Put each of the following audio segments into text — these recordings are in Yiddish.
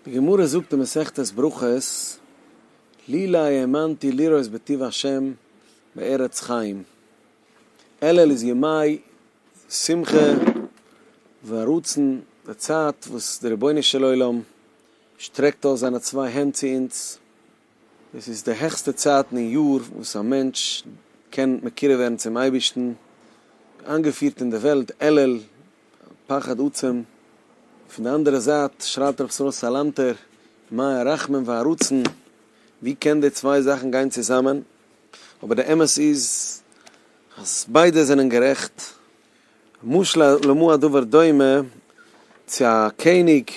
די גמרא זאגט אין מסכת ברכות לילא האמנתי לראות בטוב השם בארץ חיים אלול איז ימי שמחה ורצון די צייט וואס די רבונו של עולם שטרעקט אויס זיינע צוויי הענט צו אונז, עס איז די העכסטע צייטן אין יאר וואס א מענטש קען מקורב ווערן צום אייבערשטן, איינגעפירט אין די וועלט אלול, פחד עצום, פון די אנדערע זייט שרייט רבי ישראל סאלאנטער, מה הרחמים והרצון, ווי קען די צוויי זאכן גיין צוזאמען, אבער די אמת איז אז ביידע זענען גערעכט, משל למה הדבר דומה, צו א קעניג,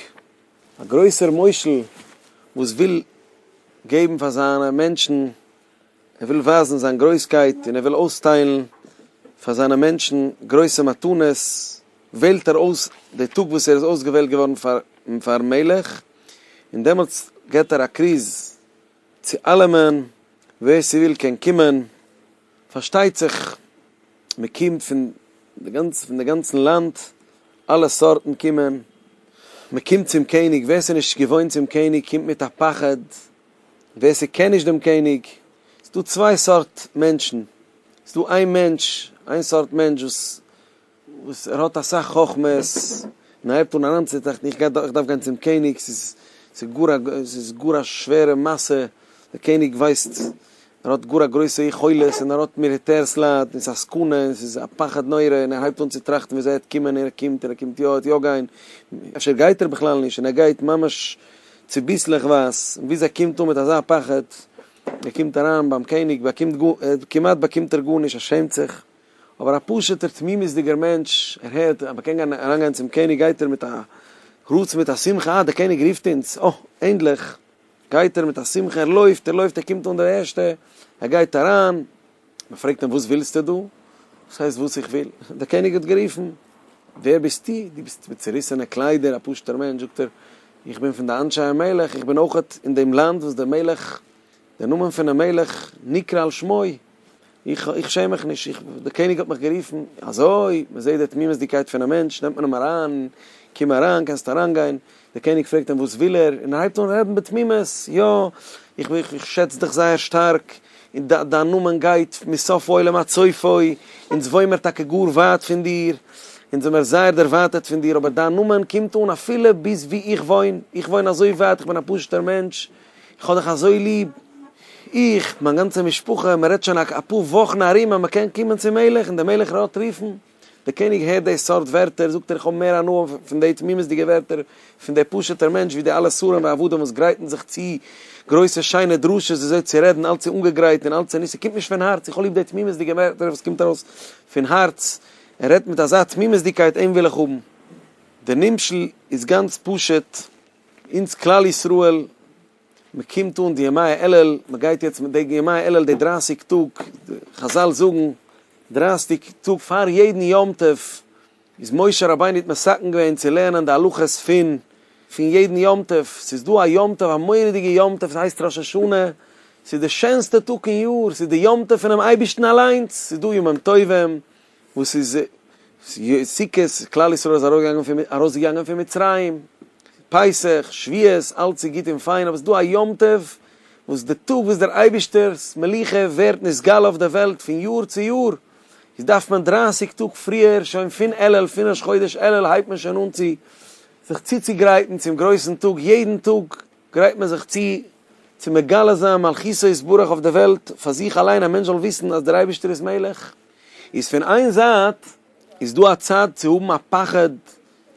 א גרויסער מושל וואס וויל געבן פאר זיינע מענטשן, ער וויל ווייזן זיין גרויסקייט און ער וויל אויסטיילן פאר זיינע מענטשן גרויסע מתנות, וועלט ער אויס די טאג וואס ער איז אויסגעוועלט געווארן פאר'ן מלך, און דעמאלטס געבט ער א כריז צו אלעמען, ווער ס'וויל קען קומען. פארשטייט זיך מ'קומט פון די גאנצע פון די גאנצן לאנד, אלע סארטן קומען, מ'קומט צום קעניג, ווער ס'איז נישט געוואוינט צום קעניג קומט מיט א פחד, ווער ס'קען נישט דעם קעניג, ס'איז דא צוויי סארט מענטשן, ס'איז דא איין מענטש, איין סארט מענטש וואס. וואס ער האט אסאך חכמות, און ער הייבט אן אריינצוטראכטן, איך גיי איך דארף גיין צום קעניג, ס'איז ס'איז גאר א ס'איז גאר א שווערע מעשה, דער קעניג ווייסט, ער האט גאר א גרויסע יכולת, און ער האט מיליטערס לייט, און ס'איז א סכנה, און ס'איז א פחד נורא, און ער הייבט אן צו טראכטן ווי אזוי ער וועט קומען, און ער קומט, און ער קומט יא, ער וועט יא גיין, אפשר גייט ער בכלל נישט, און ער גייט ממש צוביסלעכווייז, און ביז ער קומט אן מיט אזא פחד, ער קומט אריין ביים קעניג, באקומט גאר, כמעט באקומט ער גארנישט, ער שעמט זיך. אבער א פשוט'ער תמימות'דיגער מענטש, ער הערט אז מ'קען גיין אריינגיין צום קעניג גייט ער מיט א רצון מיט א שמחה, אה דער קעניג רופט אונז, אה ענדליך, גייט ער מיט א שמחה, ער לויפט, ער לויפט, ער קומט אן דער ערשטער, ער גייט אריין, מ'פרעגט אים וואס ווילסטו דא? וואס הייסט וואס איך וויל? דער קעניג האט גערופן, ווער ביסטו? דו ביסט מיט צוריסענע קליידער, א פשוט'ער מענטש, זאגט ער, איך בין פון די אנשי המלך, איך בין אויכעט אין דעם לאנד וואס דער מלך דער נאמען פונעם מלך נקרא על שמו, איך איך שעם מיך נישט, איך דער קעניג האט מיך גערופן, אזוי, מען זעט די תמימות'דיגקייט פונעם מענטש, נעמט מען אים אריין, קום אריין, קענסט אריינגיין, דער קעניג פרעגט אים וואס וויל ער, און ער הייבט אן רעדן בתמימות, יא, איך איך איך שעץ דיך זייער שטארק, און דיין דיין נאמען גייט מסוף העולם עד סופו, אונז וואוימער טאקע גאר ווייט פון דיר, אונז זעמער זייער דערווייטערט פון דיר, אבער דיין נאמען קומט אן אפילו ביז וואו איך וואוין, איך וואוין אזוי ווייט, איך בין א פשוט'ער מענטש, איך האב דיך אזוי ליב, איך, מיין גאנצע משפחה, מען רעדט שוין א פאר וואכן ארום אז מען קען קומען צום מלך און דער מלך רעדט רופן. דער קעניג הערט די סארט ווערטער, זאגט ער איך האב מער הנאה פון די תמימות'דיגע ווערטער פון דער פשוט'ער מענטש ווי די אלע שרים ועבדים וואס גרייטן זיך צו גרויסע שיינע דרשות וויאזוי צו רעדן, אלץ איז אנגעגרייט און אלץ איז נישט, ס'קומט נישט פון הארץ, איך האב ליב די תמימות'דיגע ווערטער וואס קומט ארויס פון הארץ, ער רעדט מיט אזא תמימות'דיגקייט אים וויל איך האבן. דער נמשל איז גאנץ פשוט. אונז כלל ישראל, מען קומט אן די ימי אלול, מען גייט יעצט מיט די ימי אלול די דרייסיג טאג, חזל זאגן דרייסיג טאג פאר יעדן יום טוב איז משה רבינו האט מסכם געווען צו לערנען די הלכות פון פון יעדן יום טוב, ס'איז דא א יום טוב א מורא'דיגע יום טוב ס'הייסט ראש השנה, ס'איז די שענסטע טאג אין יאר, ס'איז די יום טוב פונעם אייבערשטן אליינס, ס'איז דא ימים טובים, וואס איז סוכות, כלל ישראל איז ארויסגעגאנגען פון מצרים, פסח, שביעות, אלץ איז גוט און פיין, אבער עס איז דא א יום טוב, וואס די טאג וואס דער אייבערשטער'ס מלוכה ווערט נתגלה אויף דער וועלט פון יאר צו יאר, איז דארף מען דרייסיג טאג פריער, שוין פון אלול, פון ראש חודש אלול הייבט מען שוין אן צו זיך צוצוגרייטן צום גרויסן טאג, יעדן טאג גרייט מען זיך צו צו מגלה זיין מלכותו יתברך אויף דער וועלט, פאר זיך אליין, א מענטש זאל וויסן אז דער אייבערשטער איז מלך. איז פון איין זייט איז דא א צד צו האבן א פחד,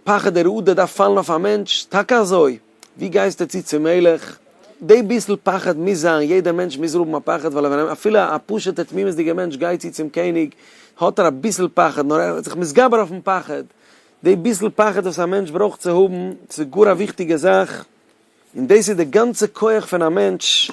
פחד דער אדר דארף פאלן אויף א מענטש, טאקע אזוי, ווי גייסטו צו צום מלך, די ביסל פחד מוז זיין, יעדער מענטש מוז האבן א פחד, ווייל ווען אפילו א פשוט'ער תמימות'דיגער מענטש גייט צו צום קעניג האט ער אביסל פחד, נאר ער איז זיך מתגבר אויפן פחד, די ביסל פחד וואס א מענטש ברויך צו האבן, ס'איז גאר א וויכטיגע זאך. און דאס איז די גאנצע כח פון א מענטש,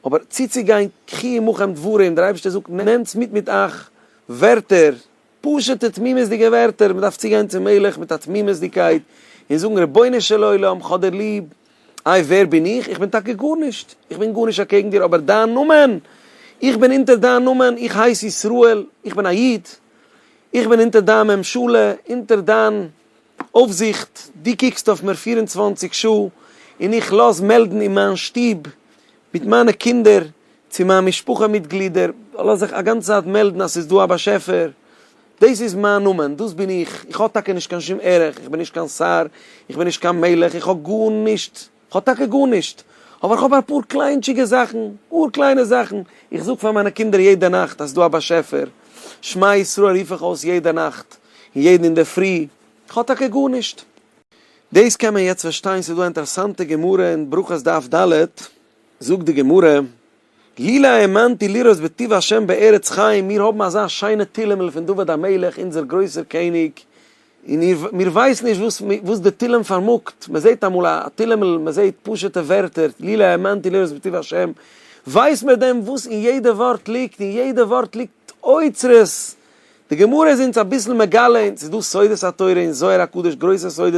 אבער צוצוגיין קחי עמכם דברי, און דער אייבערשטער זאגט נעמטס מיט מיט אייך ווערטער, פשוטע תמימות'דיגע ווערטער, מ'דארף צוגיין צום מלך מיט א תמימות'דיגקייט און זאגן רבונו של עולם כ'האב דיר ליב, איי ווער בין איך, איך בין טאקע גארנישט, איך בין גארנישט אקעגן דיר, אבער דיין נאמען, איך בין אונטער דיין נאמען, איך הייס ישראל, איך בין א איד, איך בין אונטער דיין ממשלה, אונטער דיין אויפזיכט, דו קוקסט אויף מיר פֿיר און צוואַנציק שעה, און איך לאז מעלדן אין מיין שטוב, מיט מיינע קינדער, צו מיין משפחה מיטגלידער, לאז איך א גאנצע צייט מעלדן אז ס'איז דא א באשעפער. דאס איז מיין נאמען, דאס בין איך. איך האב טאקע נישט קיין שום ערך, איך בין נישט קיין שר, איך בין נישט קיין מלך, איך האב גארנישט. כ'האב טאקע גארנישט, אבער כ'האב אפאר קליינטשיגע זאכן, גאר קליינע זאכן, איך זאג פאר מיינע קינדער יעדע נאכט אז ס'דא א באשעפער, שמע ישראל רוף איך אויס יעדע נאכט, און יעדן אינדערפרי, כ'האב טאקע גארנישט. דאס קען מען יעצט פארשטיין, ס'דא א אינטערעסאנטע גמרא אין ברכות דף ד, זאגט די גמרא, לילא האמנתי לראות בטוב השם בארץ חיים, מיר האבן אזא שיינע תהילים'ל פון דוד המלך אונזער גרויסער קעניג, און מיר ווייסן נישט וואס וואס די תהילים פארמאגט, מען זעט אמאל א תהילים'ל, מען זעט פשוט'ע ווערטער, לילא האמנתי לראות בטוב השם, ווייסט מען דען וואס אין יעדע ווארט ליגט, אין יעדע ווארט ליגט אוצרות די גמרא איז אונז אביסל מגלה אונז, ס'איז דא סודות התורה אין זוהר הקדוש גרויסע סודות,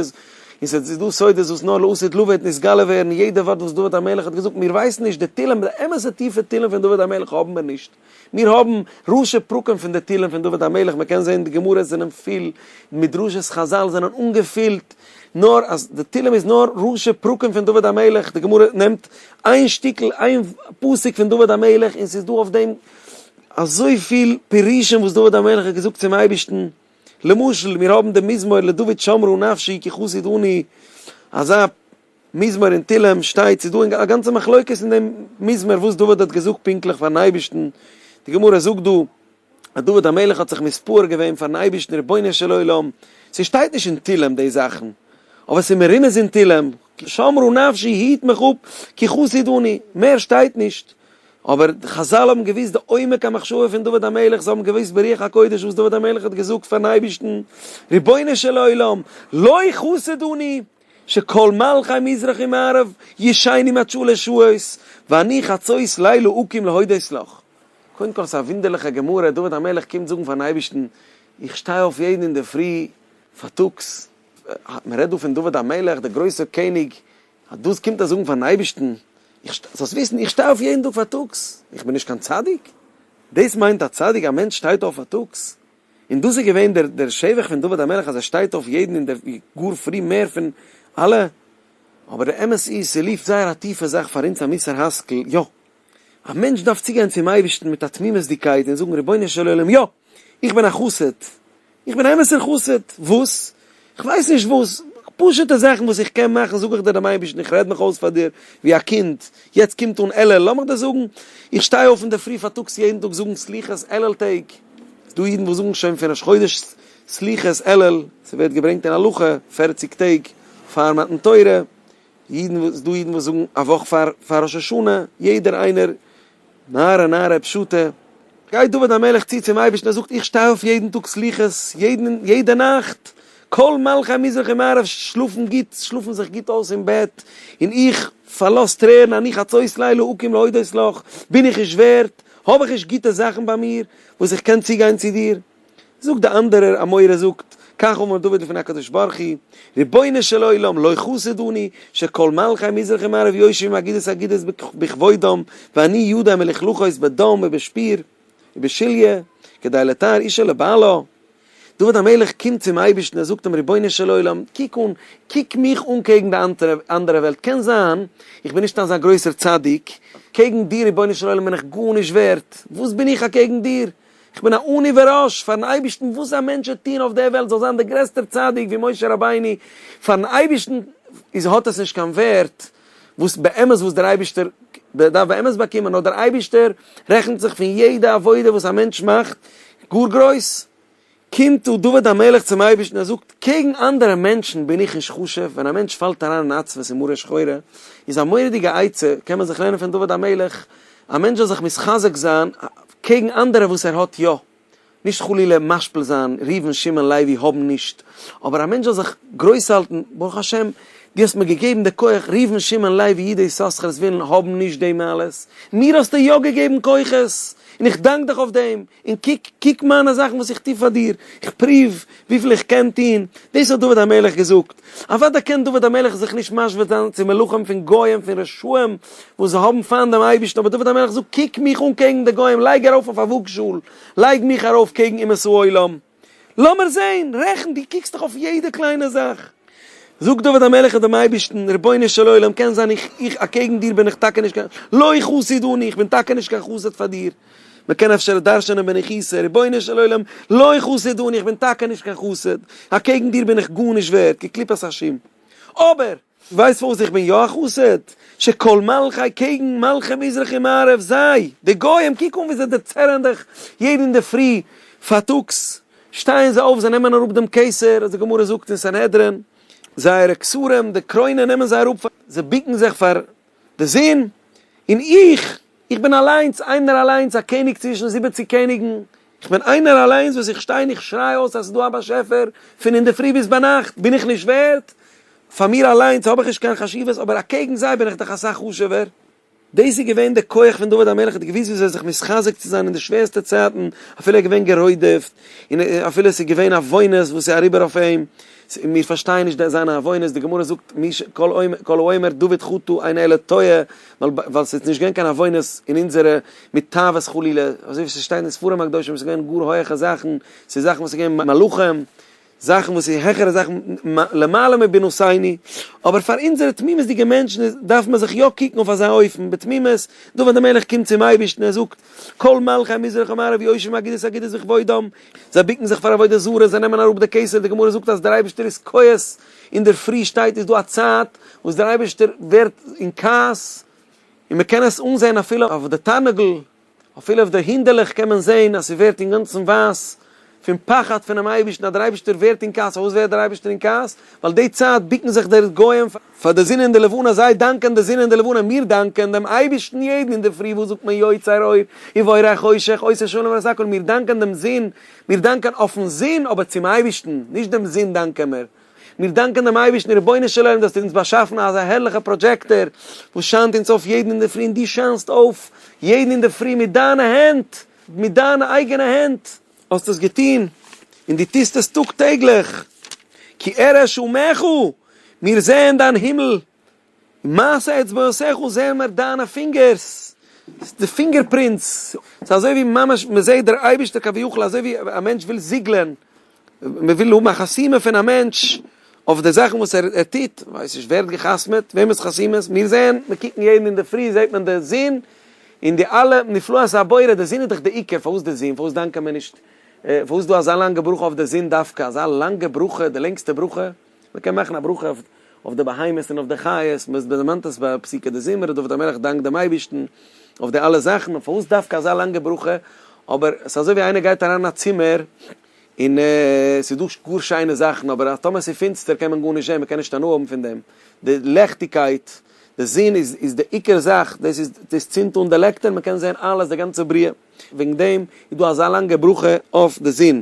און ס'איז דא סודות וואס נאר לעתיד לבא וועט נתגלה ווערן, יעדע ווארט וואס דוד המלך האט געזאגט, מיר ווייסן נישט, די תהלים, די אמת'ע טיפע תהלים פון דוד המלך האבן מיר נישט, מיר האבן ראשי פרקים פון די תהלים פון דוד המלך, מען קען זען די גמרות זענען פיל, מדרשות חזל זענען אנגעפילט, נאר אז די תהלים איז נאר ראשי פרקים פון דוד המלך, די גמרא נעמט איין שטיקל, איין פסוק פון דוד המלך און ס'איז דא אויף דעם. אזויפיל פירושים וואס דוד המלך האט געזאגט צום אייבערשטן, למשל מיר האבן דעם מזמור לדוד שמרו נפשי כי חסיד אני, אזא מזמור אין תהלים שטייט, ס'איז דא א גאנצע מחלוקת אין דעם מזמור וואס דוד האט געזאגט פונקטליך פארן אייבערשטן, די גמרא זאגט דא אז דוד המלך האט זיך מספר געווען פארן אייבערשטן רבונו של עולם, ס'שטייט נישט אין תהלים די זאכן, אבער ס'איז מרומז אין תהלים, שמרו נפשי היט מיך אפ כי חסיד אני, מער שטייט נישט. אבער חזל האבן געוואוסט די עומק המחשבה פון דוד המלך, זיי האבן געוואוסט ברוח הקודש וואס דוד המלך האט געזאגט פארן אייבערשטן, רבונו של עולם, לא חסד אני, שכל מלכי מזרח ומערב ישנים עד שלש שעות, ואני חצות לילה אקים להודות לך. קודם כל ס'איז א וואונדערליכע גמרא, דוד המלך קומט זאגן פארן אייבערשטן, איך שטיי אויף יעדן אינדערפרי פארטאגס, מ'רעדט דא פון דוד המלך, די גרויסע קעניג אז דאס קומט ער זאגן פארן אייבערשטן, איך שטיי, זאלסט וויסן, איך שטיי אויף יעדן טאג פארטאגס, איך בין נישט קיין צדיק? דאס מיינט א צדיק, א מענטש שטייט אויף פארטאגס? און דאס איז געווען דער דער שבח פון דוד המלך אז ער שטייט אויף יעדן און דער גאר פרי מער פון אלע, אבער דער אמת איז ס'ליפט זייער א טיפע זאך פאר אונז א מוסר השכל, יא! א מענטש דארף צוגיין צום אייבערשטן מיט א תמימות'דיגקייט און זאגן, רבונו של עולם, יא! איך בין א חסיד! איך בין א אמת'ער חסיד! וואס? איך ווייס נישט וואס, פשוט'ע זאכן וואס איך קען מאכן זאג איך דיר דעם אייבערשטן, איך רעד מיך אויס פאר דיר ווי א קינד, יעצט קומט אן אלול, לאמיך דיר זאגן, איך שטיי אויף אינדערפרי פארטאגס יעדן טאג זאגן סליחות אלול טעג, ס'איז דא אידן וואס זאגן שוין פון ראש חודש סליחות אלול, ס'ווערט געברענגט אין הלכה, פערציג טעג פאר מתן תורה. אידן וואס דא אידן וואס זאגן א וואך פאר פאר ראש השנה יעדער איינער נערה נערה פשוטה גייט דוד המלך צו צום אייבערשטן ער זאגט איך שטיי אויף יעדן טאג סליחות יעדן יעדע נאכט כל מלכי המזרח ומערב שלאפן גוט שלאפן זיך גוט אויס אין בעט און איך פארלאז טרערן אני חצות לילה אקים להודות לך בין איך נישט ווערט האב איך נישט גוטע זאכן ביי מיר וואס איך קען צוגיין צו דיר? זאגט די אנדערער אמורא זאגט, כך אמר דוד לפני הקדוש ברוך הוא, רבונו של עולם לא חסד אני, שכל מלכי מזרח ומערב יושבים אגודת אגודת בכבודם, ואני ידי מלכלוכות בדם ובשפיר ובשליה, כדי לתאר אישה לבעלה. דוד המלך קומט צום אייבערשטן ער זאגט אים, רבונו של עולם, קוק אן, קוק מיך אן קעגן די אנדערע וועלט, קען זיין איך בין נישט אזא גרויסער צדיק, קעגן דיר רבונו של עולם בין איך גארנישט ווערט, וואס בין איך אקעגן דיר, איך בין א אני ואראש פארן אייבערשטן וואס א מענטש וועט טון אויף דער וועלט זאל זיין דער גרעסטער צדיק ווי משה רבינו פארן אייבערשטן איז האט עס נישט קיין ווערט וואס באמת וואס דער אייבערשטער דארף באמת באקומען נאר דער אייבערשטער רעכנט זיך פון יעדע עבודה וואס א מענטש מאכט גאר גרויס קומט דא דוד המלך צום אייבערשטן ער זאגט, קעגן אנדערע מענטשן בין איך נישט חשוב, ווען א מענטש פאלט אריין אין עצבות און מרה שחורה, איז א מורא'דיגע עצה, קען מען זיך לערנען פון דוד המלך, א מענטש זאל זיך מתחזק זיין קעגן אנדערע וואס ער האט יא, נישט חלילה משפיל זיין, ראובן שמעון לוי האבן נישט, אבער א מענטש זאל זיך גרויס האלטן, ברוך השם דו האסט מיר געגעבן די כח, ראובן שמעון לוי אידי יששכר'ס ווילן האבן נישט די מעלות, מיר האסטו יא געגעבן כוחות, און איך דאנק דיך אויף דעם, און קוק, קוק מיינע זאכן וואס איך טו פאר דיר, איך פרואוו וויפיל איך קען טון, דאס האט דוד המלך געזאגט. אוודאי קען דוד המלך זיך נישט משווה זיין צו מלכים פון גוים, פון רשעים, וואס זיי האבן פיינט דעם אייבערשטן, אבער דוד המלך זאגט, קוק מיך אן קעגן די גוים, לייג ארויף אויף א וואגשאל, לייג מיך ארויף קעגן אומות העולם. לאמיר זעהן, רעכן, דו קוקסט דאך אויף יעדע קליינע זאך. זאגט דוד המלך דעם אייבערשטן, רבונו של עולם, קען זיין איך, איך, אקעגן דיר בין איך טאקע נישט קיין, לא חסיד אני, איך בין טאקע נישט קיין חסיד פאר דיר, מען קען אפשר דרש'נען בנחישות, רבונו של עולם, לא חסיד אני, איך בין טאקע נישט קיין חסיד, אקעגן דיר בין איך גארנישט ווערד, כקליפת השום. אבער. ווייסט פארוואס איך בין יא א חסיד? שכל מלכי קעגן מלכי מזרח און מערב זיי די גוים קוק אן ווי זיי דערצערען דיך יעדן אינדערפרי פארטאגס שטייען זיי אויף זיי נעמען אראפ דעם קעסער אז די גמרא זאגט אין סנהדרין זייערע כסרים די קרוינען נעמען זיי אראפ זיי ביקן זיך פאר די זון, און איך, איך בין אַליינס, איינער אַליינס, אַ קעניג צווישן זיבעציק קעניגן, איך בין איינער אַליינס, וואָס איך שטיי און איך שריי אויס אַז ס'איז דאָ אַ באַשעפֿער, פֿון אין דער פֿרי ביז בײַ נאַכט, בין איך נישט ווערט? פֿאַר מיר אַליינס האָב איך נישט קיין חשיבֿות, אָבער אַקעגן זיי בין איך דאָך אַ סך חשובֿער. דאָס איז געווען דער כּוח פֿון דוד המלך, ער האָט געוווּסט וויאַזוי זיך מתחזק צו זײַן אין די שווערסטע צײַטן, אַפֿילו ער איז געווען גערוידעפֿט, און אַפֿילו עס איז געווען אַ וואונעס וואָס איז אַריבער אויף אים, צו מיר פארשטייען נישט די זיינע עוונות, די גמרא זאגט מי ש כל אומר כל האומר דוד חטא אין אלה טועה, ווייל ווייל ס'איז נישט געווען קיין עוונות אין אונזערע מיט תאוות חלילה, אזוי ווי ס'שטייט אין ספרים הקדושים ס'איז געווען גאר הויעכע זאכן, ס'איז זאכן וואס איז געווען מלאכים, זאכן וואס איז העכערע זאכן למעלה מבינו סייני, אבער פאר אונזערע תמימות'דיגע מענטשן איז דארף מען זיך יא קוקן אויף אזא אופן בתמימות, דוד המלך קומט צום אייבערשטן ער זאגט כל מלכי מזרח ומערב יושבים אגודת אגודת בכבודם, זיי בוקן זיך פאר עבודה זרה, זיי נעמען אראפ די כסף, די גמרא זאגט אז דער אייבערשטער איז כועס, אינדערפרי שטייט איז דא א צייט וואס דער אייבערשטער ווערט אין כעס, און מען קען עס אנזען אפילו אויף די תרנגל, אפילו אויף די הינדעלעך קען מען זען אז ס'ווערט אינגאנצן ווייס פון פחד פונעם אייבערשטן אז דער אייבערשטער ווערט אין כעס, פארוואס ווערט דער אייבערשטער אין כעס? ווייל די צייט בוקן זיך די גוים פאר. פאר די זון און די לבנה, זיי דאנקען די זון און די לבנה, מיר דאנקען דעם אייבערשטן יעדן אינדערפרי, וואס זאגט מען יוצא אור ובורא חושך, עושה שלום ועושה הכל, מיר דאנקען דעם זון, מיר דאנקען אויפן זון, אבער צום אייבערשטן, נישט דעם זון דאנקען מיר, מיר דאנקען דעם אייבערשטן, רבונו של עולם דו האסט אונז באשאפן אזא הערליכע פראדזשעקטאר, וואס שיינט אונז אויף יעדן אינדערפרי, און דו שיינסט אויף יעדן אינדערפרי מיט דיינע הענט, מיט דיינע אייגענע הענט, האסט עס געטון, און דו טוסט עס טאג טעגליך, כי אראה שומך הוא, מיר זעען דיין הימל, און מעשי אצבעותיך זעען מיר דיינע פינגערס, די פינגער פרינטס, ס'איז אזוי ווי ממש מען זעט דער אייבערשטער כביכול, אזוי ווי א מענטש וויל זיגלען, מען וויל האבן א חתימה פון א מענטש אויף די זאכן וואס ער טוט, כ'ווייס נישט ווער האט גע'חתמ'עט, וועמענס חתימה עס, מיר זעען, מיר קוקן יעדן אינדערפרי זעט מען די זון, און די אלע נפלאות הבורא, די זון איז דאך די עיקר, פארוואס די זון, פארוואס דאנקען מיר נישט, פארוואס איז דא אזא לאנגע ברכה אויף די זון דווקא, אזא לאנגע ברכה, די לענגסטע ברכה. מען קען מאכן א ברכה אויף אויף די בהמות און אויף די חיות, מען דערמאנט עס ביי פסוקי דזמרה, דוד המלך דאנקט דעם אייבערשטן אויף די אלע זאכן, און פארוואס דווקא אזא לאנגע ברכה? אבער עס איז אזוי ווי איינער גייט אריין אין א צימער און עס איז דא גאר שיינע זאכן, אבער אז טאמער עס איז פינצטער קען מען גארנישט זען, מען קען נישט הנאה האבן פון דעם, די לעכטיגקייט, די זון איז איז די עיקר זאך, דאס איז דאס צינדט אן די לעקטער, מען קען זען אלעס, די גאנצע בריאה. וועגן דעם איז דא אזא לאנגע ברכה אויף די זון,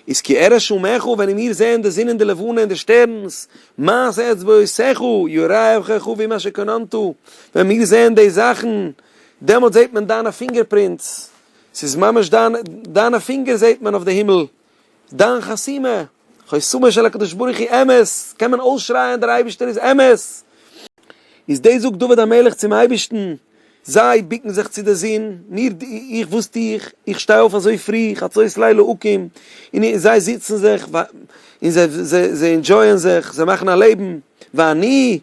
איז כי אראה שומעך, ווען איר מיר זעהן די זון און די לבנה און די שטערנס, מעש אצבעותיך, יראה עברך אבי מה שקננת, ווען מיר זעהן די זאכן, דעמאלט זעהט מען דיינע פינגער פרינטס, ס'איז ממש דיינע פינגער זעהט מען אויף די הימל, דיין חתימה, חותמו של הקדוש ברוך הוא אמת, קען מען אויסשרייען דער אייבערשטער איז אמת. איז דאס זאגט דוד המלך צום אייבערשטן, זיי בוקן זיך צו די זון, מיר, איך וואס טו איך, איך שטיי אויף אזוי פרי, חצות לילה אקים, און זיי זיצן זיך, און זיי אינדזשויען זיך, זיי מאכן א לעבן, ואני,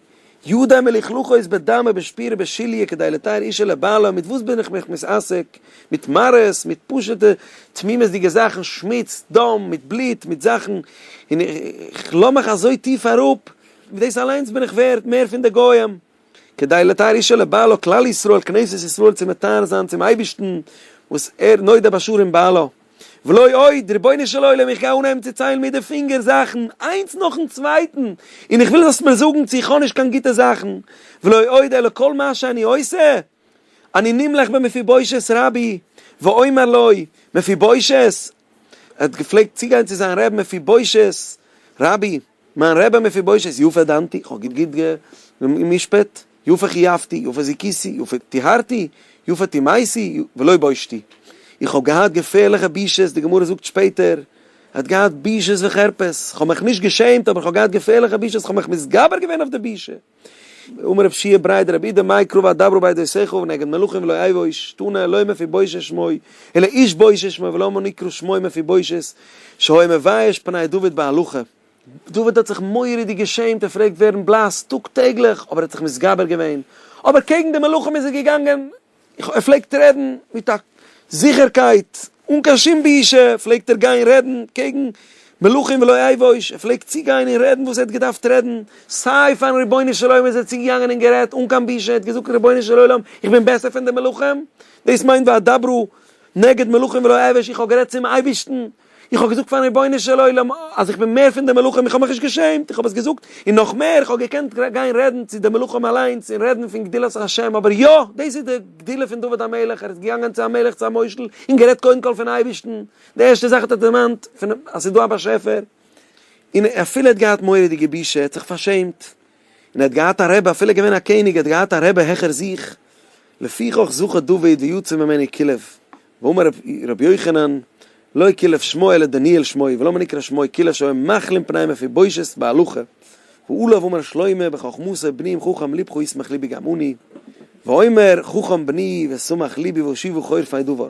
ידי מלכלכו איז בדמה בשפירה בשליה כדי לתאר אישה לבעלה, מיט וואס בין איך מיך מתעסק? מיט מראות, מיט פשוט'ע תמימות'דיגע זאכן, שמוץ, דם, מיט בלוט, מיט זאכן, און איך לאז מיך אזוי טיף אראפ, מיט דאס אליינס בין איך ווערד מער פון די גוים, כדי לתאר אישה לבעלה, כלל ישראל, כנסת ישראל צו מטהר זיין צום אייבערשטן וואס ער נודע בשרים בעלה. ולא עוד, רבונו של עולם איך גיי אנהייבן צו ציילן מיט די פינגער זאכן איינס נאכן צווייטן, און איך וויל זאלסט מיר זאגן צו איך האב נישט קיין גוטע זאכן, ולא עוד אלא כל מה שאני עושה, אני נמלך במפיבושת רבי, ואומר לו, מפיבושת, ער האט געפלעגט צוגיין צו זיין רעב מפיבושת רבי, מיין רבי מפיבושות יפה דנתי, איך האב גוט גוט גע'משפט, יפה חייבתי, יפה זיכיתי, יפה טיהרתי, יפה טימאיתי, ולא בושתי. איך האב געהאט געפערליכע בושות, די גמרא זאגט שפעטער, ער האט געהאט בושות וחרפות, איך האב מיך נישט געשעמט, אבער איך האב געהאט געפערליכע בושות, איך האב מיך מתגבר געווען אויף די בושה. אמר רב שיע ברייט דרבי איד מאי קרובא דאברו בידי שיחו ונגד מלכים ולא אייבו איש תנא לא מפי בושה שמוי אלא איש בושה שמוי ולמה נקרא שמוי מפי בושת שהיה מבייש פני דוד בהלכה דוד האט זיך מורא'דיג געשעמט ער פרעגט ווערן בלאס טאג טעגליך אבער ער האט זיך מתגבר געווען אבער קעגן די מלכים איז ער געגאנגען ער פלעגט רעדן מיט א זיכערקייט, אן קיין שום בושה פלעגט ער גיין רעדן קעגן מלכים ולא אייבוש, ער פלעגט צוגיין און רעדן וואס ער האט געדארפט רעדן, סיי פארן רבונו של עולם איז ער צוגעגאנגען און גערעדט אן קיין בושה, ער האט געזאגט רבונו של עולם איך בין בעסער פון די מלכים? דאס מיינט ואדברו נגד מלכים ולא אייבוש, איך האב גערעדט צום אייבערשטן איך האב געזאגט פארן רבונו של עולם אז איך בין מער פון די מלאכים, איך האב מיך נישט געשעמט, איך האב עס געזאגט, און נאך מער, איך האב געקענט גיין רעדן צו די מלאכים אליינס און רעדן פון גדולת השם, אבער יא, דאס איז די גדולה פון דוד המלך, ער איז געגאנגען צו א מלך, צו א מושל, און גערעדט קודם כל פון אייבערשטן, די ערשטע זאך האט ער דערמאנט פון אז ס'איז דא א באשעפער, און אפילו ער האט געהאט מורא'דיגע בושה, ער האט זיך פארשעמט, און ער האט געהאט א רבי, אפילו געווען א קעניג, ער האט געהאט א רבי העכער זיך, לפיכך זכה דוד ויצא ממנו כלב, ואמר ר' יוחנן, לא כלב שמו אלא דניאל שמו, ולמה נקרא שמו, כלב שהיה מכלין פני מפי בושת בהלכה, ועליו אמר שלמה בחכמותו בני אם חכם לבכו ישמח לבי גם אני, ואומר חכם בני ושמח לבי והושיבו חור פני דבר.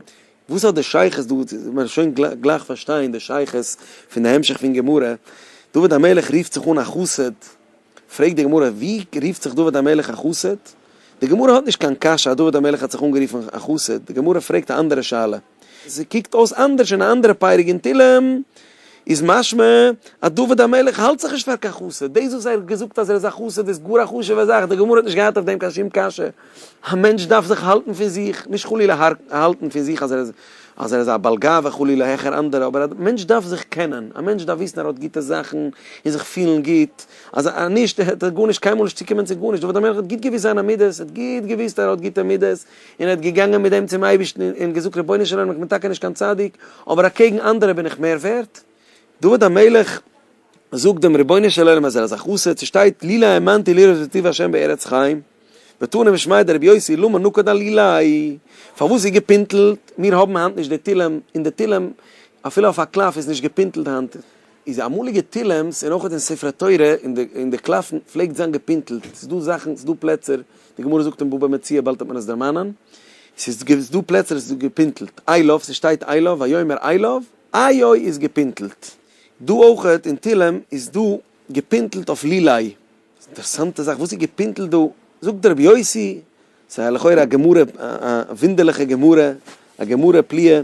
וואס האט די שייכות דא, מ'וועט שוין גלייך פארשטיין די שייכות פון די המשך פון גמרא, דוד המלך רופט זיך אן א חסיד, פרעגט די גמרא, ווי רופט זיך דוד המלך א חסיד? די גמרא האט נישט קיין קשיא אז דוד המלך האט זיך אנגערופן א חסיד, די גמרא פרעגט א אנדערע שאלה. עס קוקט אויס אנדערש אין א אנדערע פרק אין תהילים, איז משמע אז דוד המלך האלט זיך נישט פאר קיין חסיד, דאס וואס ער האט געזאגט אז ער איז א חסיד איז גאר א חשוב'ע זאך, די גמרא האט נישט געהאט אויף דעם קיין שום קשיא. א מענטש דארף זיך האלטן פון זיך, נישט חלילה האלטן פון זיך אז ער איז א בעל גאווה חלילה העכער אנדערע, אבער א מענטש דארף זיך קענען, א מענטש דארף וויסן ער האט גוטע זאכן און זיך פילן גוט, אז נישט העט ער גארנישט קיינמאל נישט צוקומען צו גארנישט, דוד המלך האט גוט געוויסט זיינע מידות, ער האט גוט געוויסט אז ער האט גוטע מידות, און ער האט געגאנגען מיט דעם צום אייבערשטן און געזאגט רבונו של עולם איך בין טאקע נישט קיין צדיק, אבער אקעגן אנדערע בין איך מער ווערט? דוד המלך. מען זאגט דעם רבונו של עולם אז ער איז א חסיד, ס'שטייט לילא האמנתי לראות את טוב השם בארץ חיים, ותענה ושמיה דרבי יוסי למה נקד על לילאי, פארוואס איז געפינטלט, מיר האבן היינט נישט די תהלים, און די תהלים אפילו אויף א קלף איז נישט געפינטלט היינט, איז די אמאליגע תהלים'ס און אויך אין ספרי תורה און די קלפן פלעגט זיין געפינטלט, ס'איז דא זאכן, ס'איז דא פלעצער, די גמרא זאגט אין בבא מציעא באלד האט מען עס דערמאנען, ס'איז דא פלעצער עס איז געפינטלט, איילוב, ס'שטייט איילוב, ויאמר איילוב, איי אוי איז געפינטלט. דא אויכעט אין תהלים איז דא געפינטלט אויף לילאי, אינטערסאנטע זאך, וואס איז געפינטלט דא? זאגט דער רבי יוסי, ס'איז לכאורה א גמרא, א וואונדערליכע גמרא, א גמרא פליאה,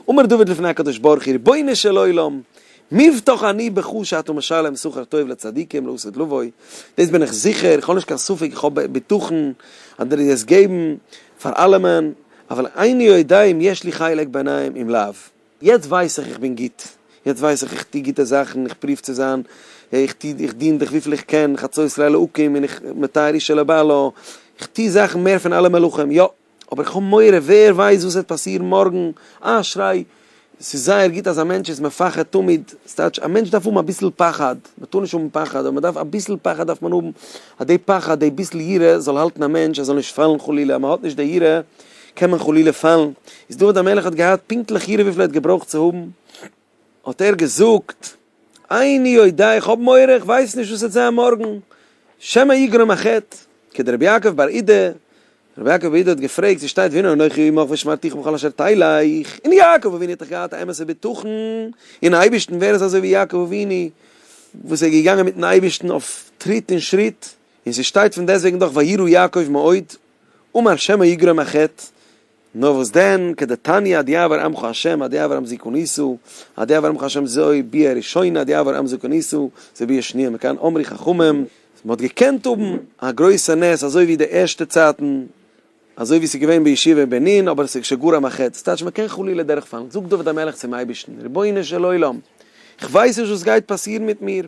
אמר דוד לפני הקדוש ברוך הוא, רבונו של עולם, מבטח אני בך שאתה משלם שכר טוב לצדיקים לא עשית לבוי, דאס בין איך זיכער, איך האב נישט קיין ספק, איך האב בטחון אז דו וועסט געבן פאר אלעמען, אבל איני יודע אם יש לי חלק בעניים אם לאו. יעצט ווייס איך איך בין גוט, יעצט ווייס איך איך טו גוטע זאכן, איך פרואוו צו זיין, איך טו, איך דין דיך וויפיל איך קען, חצות לילה אקום און איך מתי רישא לבעלא, איך טו זאכן מער פון אלע מלאכים, יא, אבער איך האב מורא, ווער ווייסט וואס וועט פאסירן מארגן, אשרי, עס איז זייער גוט אז א מענטש איז מפחד תמיד, ס'טייטש א מענטש דארף האבן אביסל פחד, מען טאר נישט האבן פחד, אבער מען דארף אביסל פחד דארף מען האבן, אז די פחד, די ביסל יראה זאל האלטן א מענטש ער זאל נישט פאלן חלילה, אז מען האט נישט די יראה קען מען חלילה פאלן, איז דוד המלך האט געהאט פונקטליך יעדער וויפיל ער האט געברויכט צו האבן, האט ער געזאגט, איני יודע, איך האב מורא, איך ווייס נישט וואס עט זיין מארגן, שמא יגרום א חטא, כ ד רבי יעקב בר אידא, רבי יעקב בר אידא האט געפרעגט ווי שטייט והנה אנכי עמך ושמרתיך בכל אשר תלך, און יעקב אבינו האט דאך געהאט א אמת'ע בטחון אין אייבערשטן, ווער איז אזוי ווי יעקב אבינו וואס איז געגאנגען מיטן אייבערשטן אויף טריט און שריט, און ס'שטייט פון דעסוועגן דאך וירא יעקב מאוד, אמר שמא יגרום א חטא, נאר וואס דען, כדתניא עד יעבור עמך השם עד יעבור עמזי קניסו, עד יעבור עמך השם זוי ביאה ראשונה עד יעבור עמזו קניסו זוי ביאה שניה מכאן אמרי חכמים, מען האט געקענט האבן א גרויסע נס אזוי ווי די ערשטע צייטן, אזוי ווי עס איז געווען בישיבה בענין, אבער עס איז כשגורם א חטא, ס'טייטש מען קען חלילה דורכפאלן, זאגט דוד המלך צום אייבערשטן, רבונו של עולם, איך ווייס נישט וואס גייט פאסירן מיט מיר,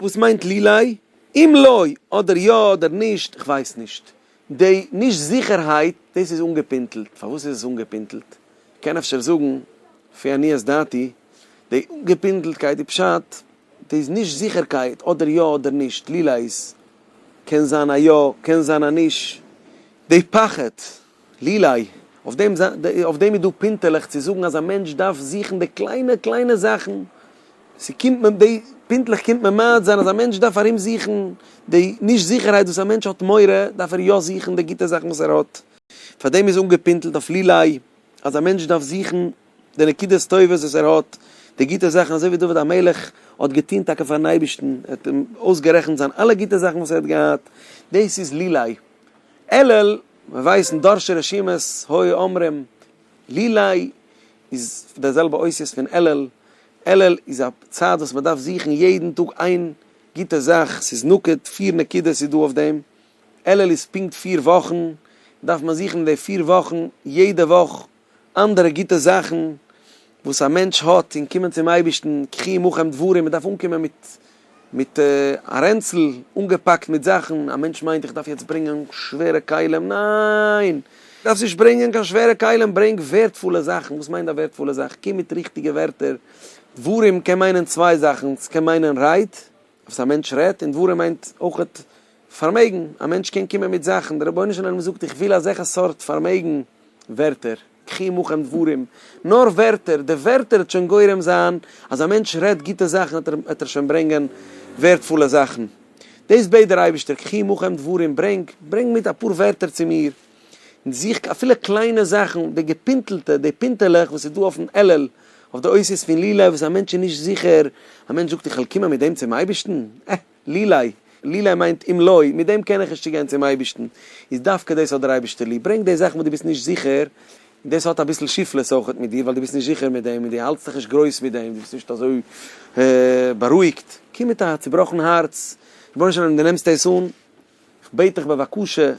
וואס מיינט לילי? אם לא, אדער יא אדער נישט, כ'ווייס נישט. די נישט זיכערהייט, דאס איז אנגעפינטלט. פארוואס איז עס אנגעפינטלט? כ'קען אפשר זאגן, לפי עניית דעתי, די אנגעפינטלטקייט איז פשט, די נישט זיכערקייט, אדער יא אדער נישט, לילי איז, קען זיין א יא, קען זיין א נישט, די פחד. לילי, אויף דעם אויף דעם איז דא פינטעלעך צו זאגן אז א מענטש דארף זוכן די קליינע קליינע זאכן, ס'קומט מען די פינטלעך קומט מען מעיד זיין אז א מענטש דארף ארום זוכן די נישט זיכערהייט וואס א מענטש האט מורא דארף ער יא זוכן די גוטע זאכן וואס ער האט, פאר דעם איז אנגעפינטלט אויף לילי אז א מענטש דארף זוכן די נקודות טובות וואס ער האט, די גוטע זאכן אזוי ווי דוד המלך האט געטון טאקע פארן אייבערשטן, ער האט אים אויסגערעכנט זיין אלע גוטע זאכן וואס ער האט געהאט, דאס איז לילי. עלעל. מען ווייסט אין דורשי רשימות הוי אומרים לי לי איז די זעלבע אותיות פון אלל, אלל איז א צד וואס מען דארף זוכן יעדן טאג איין גוטע זאך, ס'איז נוקד, פיר נקודות איז דא אויף דעם, אלל איז פונקט פיר וואכן, דארף מען זוכן אין די פיר וואכן יעדע וואך אנדערע גוטע זאכן וואס א מענטש האט און קומען צום אייבערשטן ככי עמכם דברים, מען דארף אנקומען מיט מיט א רענצל אנגעפאקט מיט זאכן, א מענטש מיינט איך דארף יעצט ברענגען שווערע כלים, ניין! דארפסט נישט ברענגען קיין שווערע כלים, ברענג ווערדפולע זאכן, וואס מיינט א ווערדפולע זאך? קום מיט ריכטיגע ווערטער, דברים קען מיינען צוויי זאכן, ס'קען מיינען רייד, וואס א מענטש רעדט, און דברים מיינט אויכעט פארמעגן, א מענטש קען קומען מיט זאכן, דער רבונו של עולם זאגט איך וויל אזעלכע סארט פארמעגן, ווערטער, קחי עמכם דברים, נאר ווערטער, די ווערטער וועט שוין גורם זיין אז א מענטש רעדט גוטע זאכן וועט ער שוין ברענגען ווערטפולע זאכן, דאס בעט דער אייבערשטער, קחי עמכם דברים, ברענג, ברענג מיט אפאר ווערטער צו מיר, און זוך אפילו קליינע זאכן, די געפינטלטע, די פינטעלעך וואס איז דא אויפן עלל, אויף די אותיות פון לילא וואס א מענטש איז נישט זיכער, א מענטש זאגט איך וועל קומען מיט דעם צום אייבערשטן, עה. לילי, לילי מיינט אם לא, מיט דעם קען איך נישט צוגיין צום אייבערשטן, איז דווקא דאס האט דער אייבערשטער ליב, ברענג די זאכן וואס דו ביסט נישט זיכער, און דאס האט אביסל שיפלעס אויך מיט דיר ווייל דו ביסט נישט זיכער מיט דעם און דו האלטסט דיך נישט גרויס מיט דעם, דו ביסט נישט אזוי בארואיגט, קום מיט א צובראכן הארץ, רבונו של עולם דו נעמסט עס אן, איך בעט דיך בבקשה,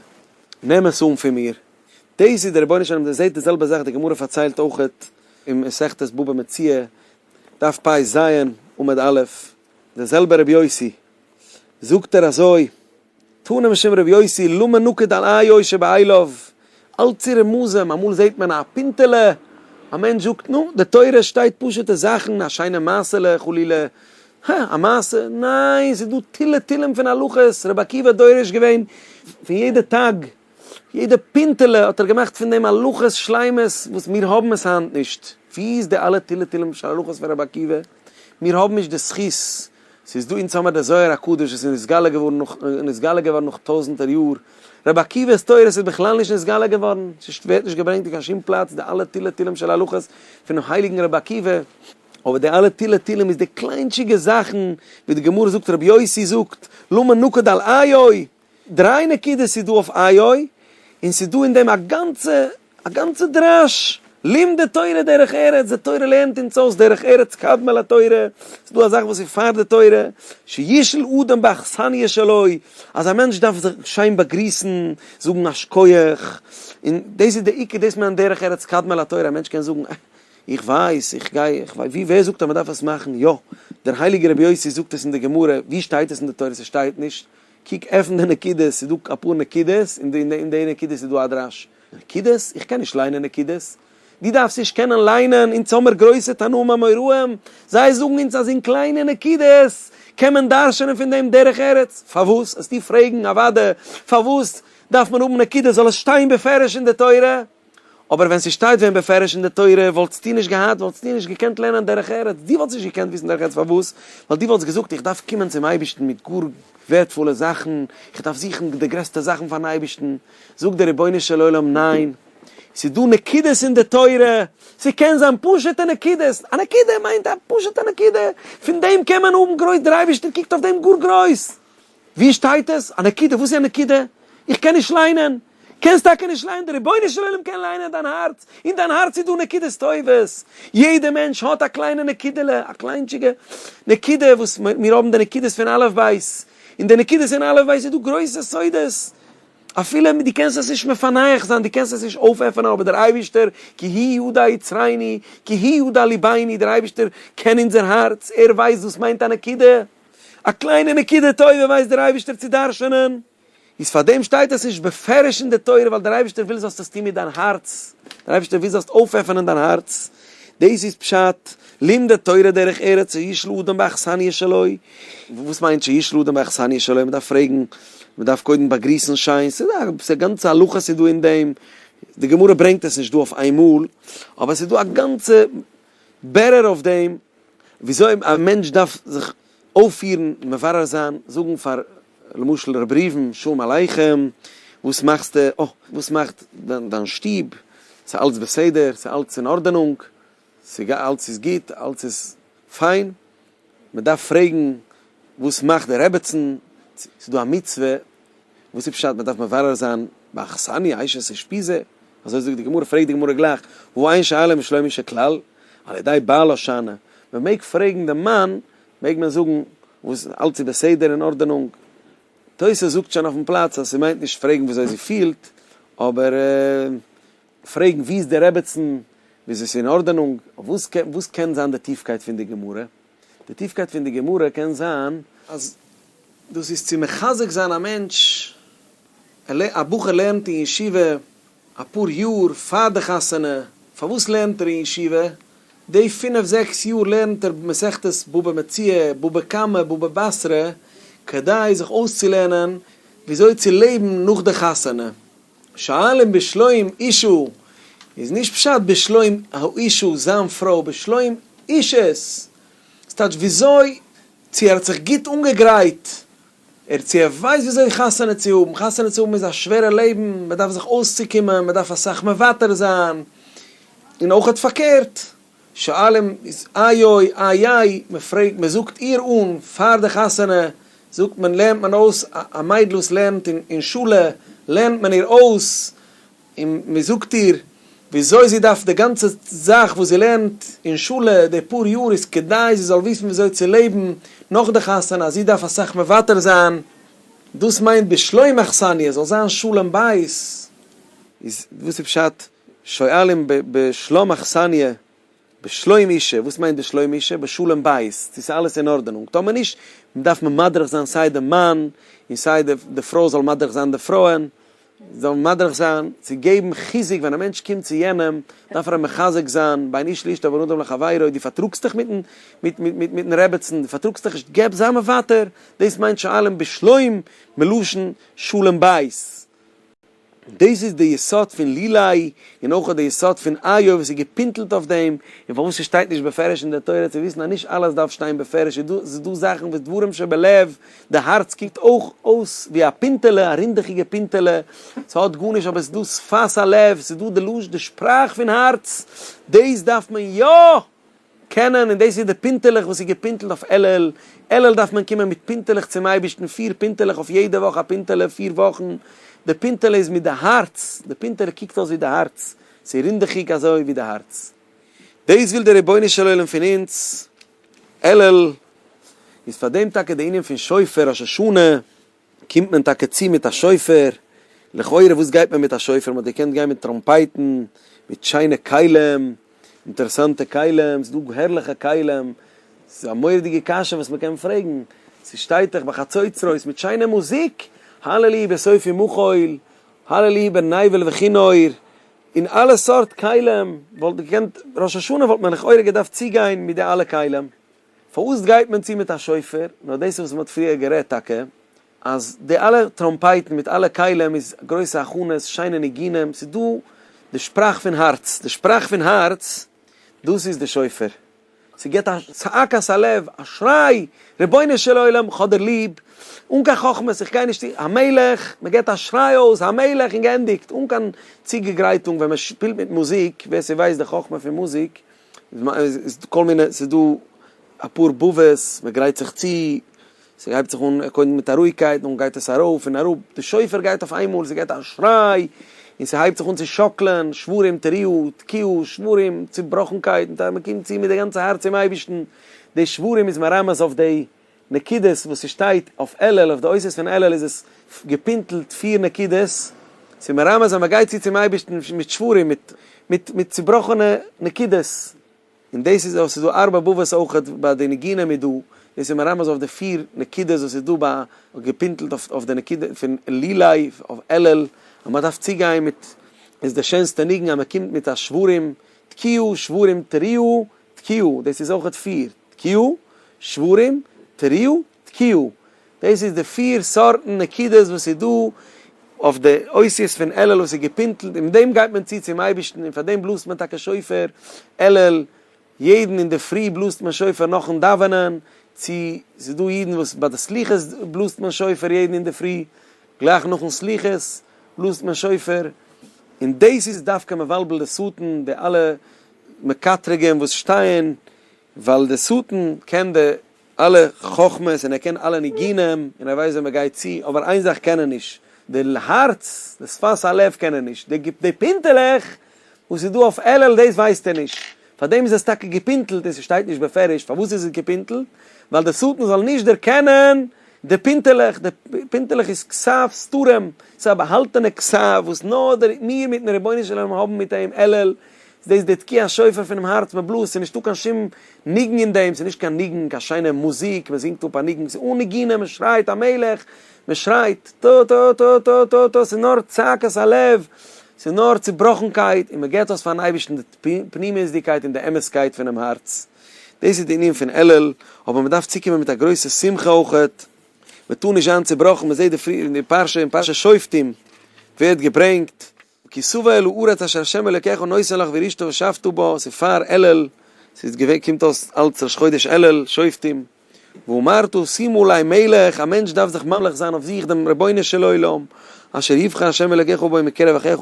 נעם עס אן פון מיר, דאס איז דער רבונו של עולם, דער זעט די זעלבע זאך, די גמרא פארציילט אויך אין מסכת בבא מציעא, דף פ ז, עמוד א', דער זעלבער רבי יוסי, זאגט ער אזוי, תנו משום רבי יוסי לא מנוקד על איו שבעליו, אלץ צו רמזים, אמאל זעט מען א פינטעלע, א מענטש זאגט, נו, די תורה שטייט פשוט'ע זאכן, א שיינע מעשה'לע, חלילה, הא, א מעשה, ניין, ס'איז דא תילי תילים פון הלכות, רבי עקיבא האט דורש געווען פון יעדע טאג, יעדע פינטעלע האט ער געמאכט פון דעם הלכות שלימות, וואס מיר האבן עס היינט נישט, וואו איז די אלע תילי תילים של הלכות פון רבי עקיבא? מיר האבן נישט די זכות, ס'איז דא, אונז האמיר די זוהר הקדוש וואס איז נתגלה געווארן נאך, און נתגלה געווארן נאך טויזענטער יאר, רבי עקיבא'ס תורות איז בכלל נישט נתגלה געווארן, ס'ווערט נישט געברענגט אין קיין שום פלאץ די אלע תילי תילים של הלכות פונעם הייליגן רבי עקיבא, אבער די אלע תילי תילים איז די קליינטשיגע זאכן, ווי די גמרא זאגט רבי יוסי זאגט, למה נוקד על עיו? דריי נקודות איז דא אויף איי אוי, און ס'איז דא אין דעם א גאנצע א גאנצע דרש, לימדי תורה דרך ארץ, די תורה לערנט אונז אויס דרך ארץ קדמה לתורה, ס'איז דא א זאך וואס איז פאר די תורה, שישל אדם באכסניא שלו, אז א מענטש דארף זיך שיין באגריסן, זאגן א שקויעך, און דאס איז די עיקר, דאס מיינט דרך ארץ קדמה לתורה, א מענטש קען זאגן אה, איך ווייס, איך גיי, איך ווייס, ווי, ווער זאגט אז מ'דארף עס מאכן, יא, דער הייליגער רבי יוסי זאגט עס אין די גמרא, ווי שטייט עס אין די תורה, ס'שטייט נישט. קוק עפן די נקודות, ס'איז דא אפאר נקודות, און אין די נקודות איז דא א דרש. נקודות? איך קען נישט ליינען נקודות. דו דארפסט נישט קענען ליינען, אונז האמיר גרויסע תנאים אמוראים, זיי זאגן אונז אז אין קליינע נקודות קען מען דרש'נען פון דעם דרך ארץ. פארוואס? העסטו פרעגן אוואדע פארוואס דארף מען האבן נקודות, זאל עס שטיין בפירוש אין די תורה. אבער ווען ס'שטייט ווען בפירוש אין די תורה, וואלטסטו נישט געהאט, וואלטסטו נישט געקענט לערנען דרך ארץ, דו וואלטסט נישט געקענט וויסן דרך ארץ, פארוואס? ווייל דו וואלטסט געזאגט, איך דארף קומען צום אייבערשטן מיט גאר ווערדפולע זאכן, איך דארף זוכן די גרעסטע זאכן פאר'ן אייבערשטן, זאגט דער רבונו של עולם, ניין, ס'איז דא נקודות אין די תורה, ס'קען זיין פשוט'ע נקודות, א נקודה מיינט א פשוט'ע נקודה, פון דעם קען מען האבן גרויס, דער אייבערשטער קוקט אויף דעם גאר גרויס, ווי שטייט עס? א נקודה? וואסי א נקודה? איך קען נישט ליינען? קענסט טאקע נישט ליינען? דער רבונו של עולם קען ליינען דיין הארץ, אין דיין הארץ איז דא נקודות טובות, יעדע מענטש האט א קליינע נקודה'לע, א קליינטשיגע נקודה, וואס מיר האבן די נקודות פון אלף בית, אין די נקודות אין אלף בית איז דא גרויסע סודות, אפילו דו קענסט עס נישט מפענח זיין, דו קענסט עס נישט אויפעפענען, אבער דער אייבערשטער כי הוא יודע יצרינו, כי הוא יודע לבינו, דער אייבערשטער קען אונזער הארץ, ער ווייסט וואס מיינט א נקודה. א קליינע נקודה טובה ווייסט דער אייבערשטער צו דרש'ענען, איז פאר דעם שטייט עס נישט בפירוש אין די תורה, ווייל דער אייבערשטער וויל זאלסט עס טון מיט דיין הארץ, דער אייבערשטער וויל זאלסט אויפעפענען דיין הארץ, דאס איז פשט, לומדי תורה דרך ארץ שיש לאדם באכסניא שלו, וואס מיינט שיש לאדם באכסניא שלו, מען דארף פרעגן, מען דארף קודם באגריסן שיין, ס'איז דא א גאנצע הלכות איז דא אין דעם, די גמרא ברענגט עס נישט דא אויף איינמאל, אבער עס איז דא א גאנצע בירור אויף דעם. וויאזוי א מענטש דארף זיך אויפפירן, מברר זיין, זאגן פאר למשל ר' ראובן, שלום עליכם, וואס מאכסטו, אה, וואס מאכט דיין שטוב, ס'אלץ בסדר, ס'אלץ אין ארדענונג, אלץ איז גוט, אלץ איז פיין, מ'דארף פרעגן וואס מאכט די רעבעצן, ס'דא א מצוה וואס איז פשט מען דארף מברר זיין ביי אכסניא עייש עס אושפיז ע, אזוי זאגט די גמרא, פרעגט די גמרא גלייך, הוא עיין שאלה משלומו של כלל, על ידי בעל הושענא, מען מעג פרעגן דעם מאן, מעג מען זאגן וואס אלץ איז בסדר אין ארדענונג, תוס' זאגט שוין אויפן פלאץ אז ס'מיינט נישט פרעגן וויאזוי זי פילט, אבער פרעגן ווי איז די רעבעצן, וויאזוי ס'איז אין ארדענונג, וואס קען זיין די טיפקייט פון די גמרא? די טיפקייט פון די גמרא קען זיין אז דאס איז צו מחזק זיין א מענטש, א בחור לערנט אין ישיבה אפאר יאר פאר די חתונה, פארוואס לערנט ער אין ישיבה, די פינף זעקס יאר לערנט ער מסכת בבא מציעא, בבא קמא, בבא בתרא, כדי זיך אויסצולערנען וויאזוי צו לעבן נאך די חתונה. שאלן בשלום אישו איז נישט פשט בשלום האישו זיין פרוי, בשלום אישה'ס ס'טייטש וויאזוי, צו ער האט זיך גוט אנגעגרייט, ער צו ער ווייסט וויאזוי חתונה צו האבן, חתונה צו האבן איז א שווערע לעבן, מ'דארף זיך אויסצוקומען, מ'דארף אסאך מוותר זיין, און אויכעט פארקערט, שואלים איז איי אוי איי איי, מען פרעגט מען זאגט איר אן פאר די חתונה זאגט מען לערנט מען אויס א מיידל וואס לערנט אין שולע לערנט מען איר אויס און מען זאגט איר וויאזוי זי דארף די גאנצע זאך וואס זי לערנט אין שולע די פאר יאר איז כדי זי זאל וויסן וויאזוי צו לעבן נאך די חתונה אז זי דארף אסאך מוותר זיין דאס מיינט בשלום אכסניא זאל זיין שלום בית איז וואס איז פשט? שואלים בשלום אכסניא, בשלום אישה, וואס מיינט בשלום אישה? בשלום בית, צו ס'איז אלעס אין ארדענונג, טאמער נישט, דארף מען מדריך זיין סיי די מאן, און סיי די פרוי זאל מדריך זיין די פרויען, זאלן מדריך זיין, צו געבן חיזוק ווען א מענטש קומט צו יענעם, דארף ער אים מחזק זיין, בין איש לאשתו ובין אדם לחבירו, דו פארטראגסט דיך מיטן רעבעצן, דו פארטראגסט דיך נישט, געב זיי מוותר, דאס מיינט שואלים בשלום מלשון שלום בית. דאס איז די יסוד פון לילאי, און אויך די יסוד פון איוב, וואס איז געפינטלט אויף דעם, און פארוואס עס שטייט נישט בפירוש אין דער תורה, צו וויסן אז נישט אלעס דארף שטיין בפירוש, איז דא, עס איז דא זאכן וואס דברים שבלב, די הארץ קוקט אויך אויס ווי א פינטעלע, א רינדעכיגע פינטעלע, עס האט גארנישט, אבער עס איז דא שפת הלב, עס איז דא די שפראך פון הארץ, דאס דארף מען יא! קענען, און דאס איז די פינטעלעך וואס איז געפינטלט אויף אלול, אלול דארף מען קומען מיט פינטעלעך צום אייבערשטן, פיר פינטעלעך אויף יעדע וואך א פינטעלע, פיר וואכן, די פינטעלע איז מיט די הארץ, די פינטעלע קוקט אויס ווי די הארץ, ס'איז רינדעכיג אזוי ווי די הארץ, דאס וויל דער רבונו של עולם פון אונז, אלול איז פאר דעם טאקע די ענין פון שופר, ראש השנה. קומט מען טאקע צו מיט א שופר, לכאורה וואס גייט מען מיט א שופר, מ'האט געקענט גיין מיט טראמפייטן, מיט שיינע כלים, אינטערעסאנטע כלים, ס'איז דא הערליכע כלים, ס'איז א מורא'דיגע קשיא וואס מ'קען פרעגן, ס'שטייט דאך ביי חצוצרות, מיט שיינע מוזיק, הללי בסוף ומחול, הללי בנייבל וכינור, און אלע סארט כלים, וואלט געקענט, ראש השנה וואלט מען לכאורה געדארפט צוגיין מיט די אלע כלים. פארוואס גייט מען צו מיט א שופר? נו דאס איז וואס מען האט פריער גערעדט טאקע, אז די אלע טראמפייטן מיט אלע כלים איז גרויסע הכנות, שיינע ניגונים, ס'איז דא די שפראך פון הארץ, די שפראך פון הארץ דאס איז די שופר, ס'געבט א צעק אויס הלב, א שריי, רבונו של עולם איך האב דיר ליב, אן קיין חכמות, איך גיי נישט, המלך, מען געבט א שריי אויס, המלך, און גענדיגט, אן קיין צוגעגרייטונג, ווען מען שפילט מיט מוזיק, ווער ס'ווייסט די חכמה פון מוזיק, כל מיני, ס'איז דא אפאר באבעס, מ'גרייט זיך צו, ס'הייבט זיך אן קודם מיט א רואיגקייט, דאן גייט עס ארויף און אראפ, די שופר גייט אויף איינמאל, ס'געט א שריי, און ס'הייבט זיך אן צו שאקלען, שברים, תריעו, תקיעו, שברים, צובראכנקייט, מ'קומט צו מיט די גאנצע הארץ צום אייבערשטן, די שברים איז מרמז אויף די. נקודות וואס ס'שטייט אויף אלול, אויף די אותיות פון אלול איז עס געפינטלט פיר נקודות, ס'איז מרמז אז מ'גייט צו צום אייבערשטן מיט שברים, מיט מיט מיט צובראכענע נקודות, און דאס איז ס'איז דא ארבע בבות אויכעט ביי די ניגונים איז דא, דאס איז מרמז אויף די פיר נקודות וואס איז דא ביי געפינטלט אויף אויף די נקודה פון עלילי אויף אלול, אז מ'דארף צוגיין מיט, איז די שענסטע ניגון אז מ'קומט מיט א שברים תקיעו שברים תריעו תקיעו, דאס איז אויכעט פיר, תקיעו, שברים, תריעו, תקיעו. דאס איז די פיר סארטן נקודות וואס איז דא אויף די אותיות פון אלול וואס איז געפינטלט און מיט דעם גייט מען צו צום אייבערשטן און פאר דעם בלאזט מען טאקע שופר אלול יעדן אינדערפרי בלאזט מען שופר נאכן דאווענען צו ס'איז דא אידן וואס ביי די סליחות בלאזט מען שופר יעדן אינדערפרי גלייך נאכן סליחות בלאזט מען שופר און דאס איז דווקא מבלבל די שטן די אלע מקטריגים וואס שטייען ווייל די שטן קען די אלע חכמות און ער קען אלע ניגונים און ער ווייסט ווען מען גייט צו אבער איין זאך קען ער נישט די הארץ די שפת הלב קען ער נישט די די פינטעלעך וואס איז דא אויף אלול דאס ווייסט ער נישט פארדעם איז עס טאקע געפינטעלט און ס'שטייט נישט בפירוש פארוואס איז עס געפינטעלט ווייל די שטן זאל נישט דערקענען די פינטעלעך די פינטעלעך איז כסף סתרים ס'איז א באהאלטענע כסף וואס נאר מיר מיטן רבונו של עולם האבן מיט אים אלול איז דאס די תקיעת שופר פונעם הארץ, מען בלאזט, ס'איז נישטא קיין שום ניגון אין דעם, ס'איז נישט קיין ניגון, קיין שיינע מוזיק, מען זינגט אפ א ניגון, ס'איז אן נגינה, מען שרייט המלך, מען שרייט טא טא טא טא טא טא, ס'איז נאר צעקת הלב, ס'איז נאר צעבראכנקייט, און מען געבט אויס פארן אייבערשטן די פנימיות'דיגקייט און די אמת'קייט פונעם הארץ. דאס איז די ענין פון אלול, אבער מען דארף צוקומען מיט א גרויסע שמחה אויך, מען טאר נישט זיין צעבראכן, מען זעט די פרשה אין פרשת שופטים ווערט געברענגט, כי סובא אלו ארץ אשר השם אלקיך נותן לך וירשתו ושבתו בה, ס'איז פאר אלול, ס'איז געווען, קומט אויס אלץ ראש חודש אלול, שופטים, ואמרת שימו לי מלך, א מענטש דארף זיך ממליך זיין אויף זיך דעם רבונו של עולם, אשר יבחר השם אלקיך בו מקרב אחיך,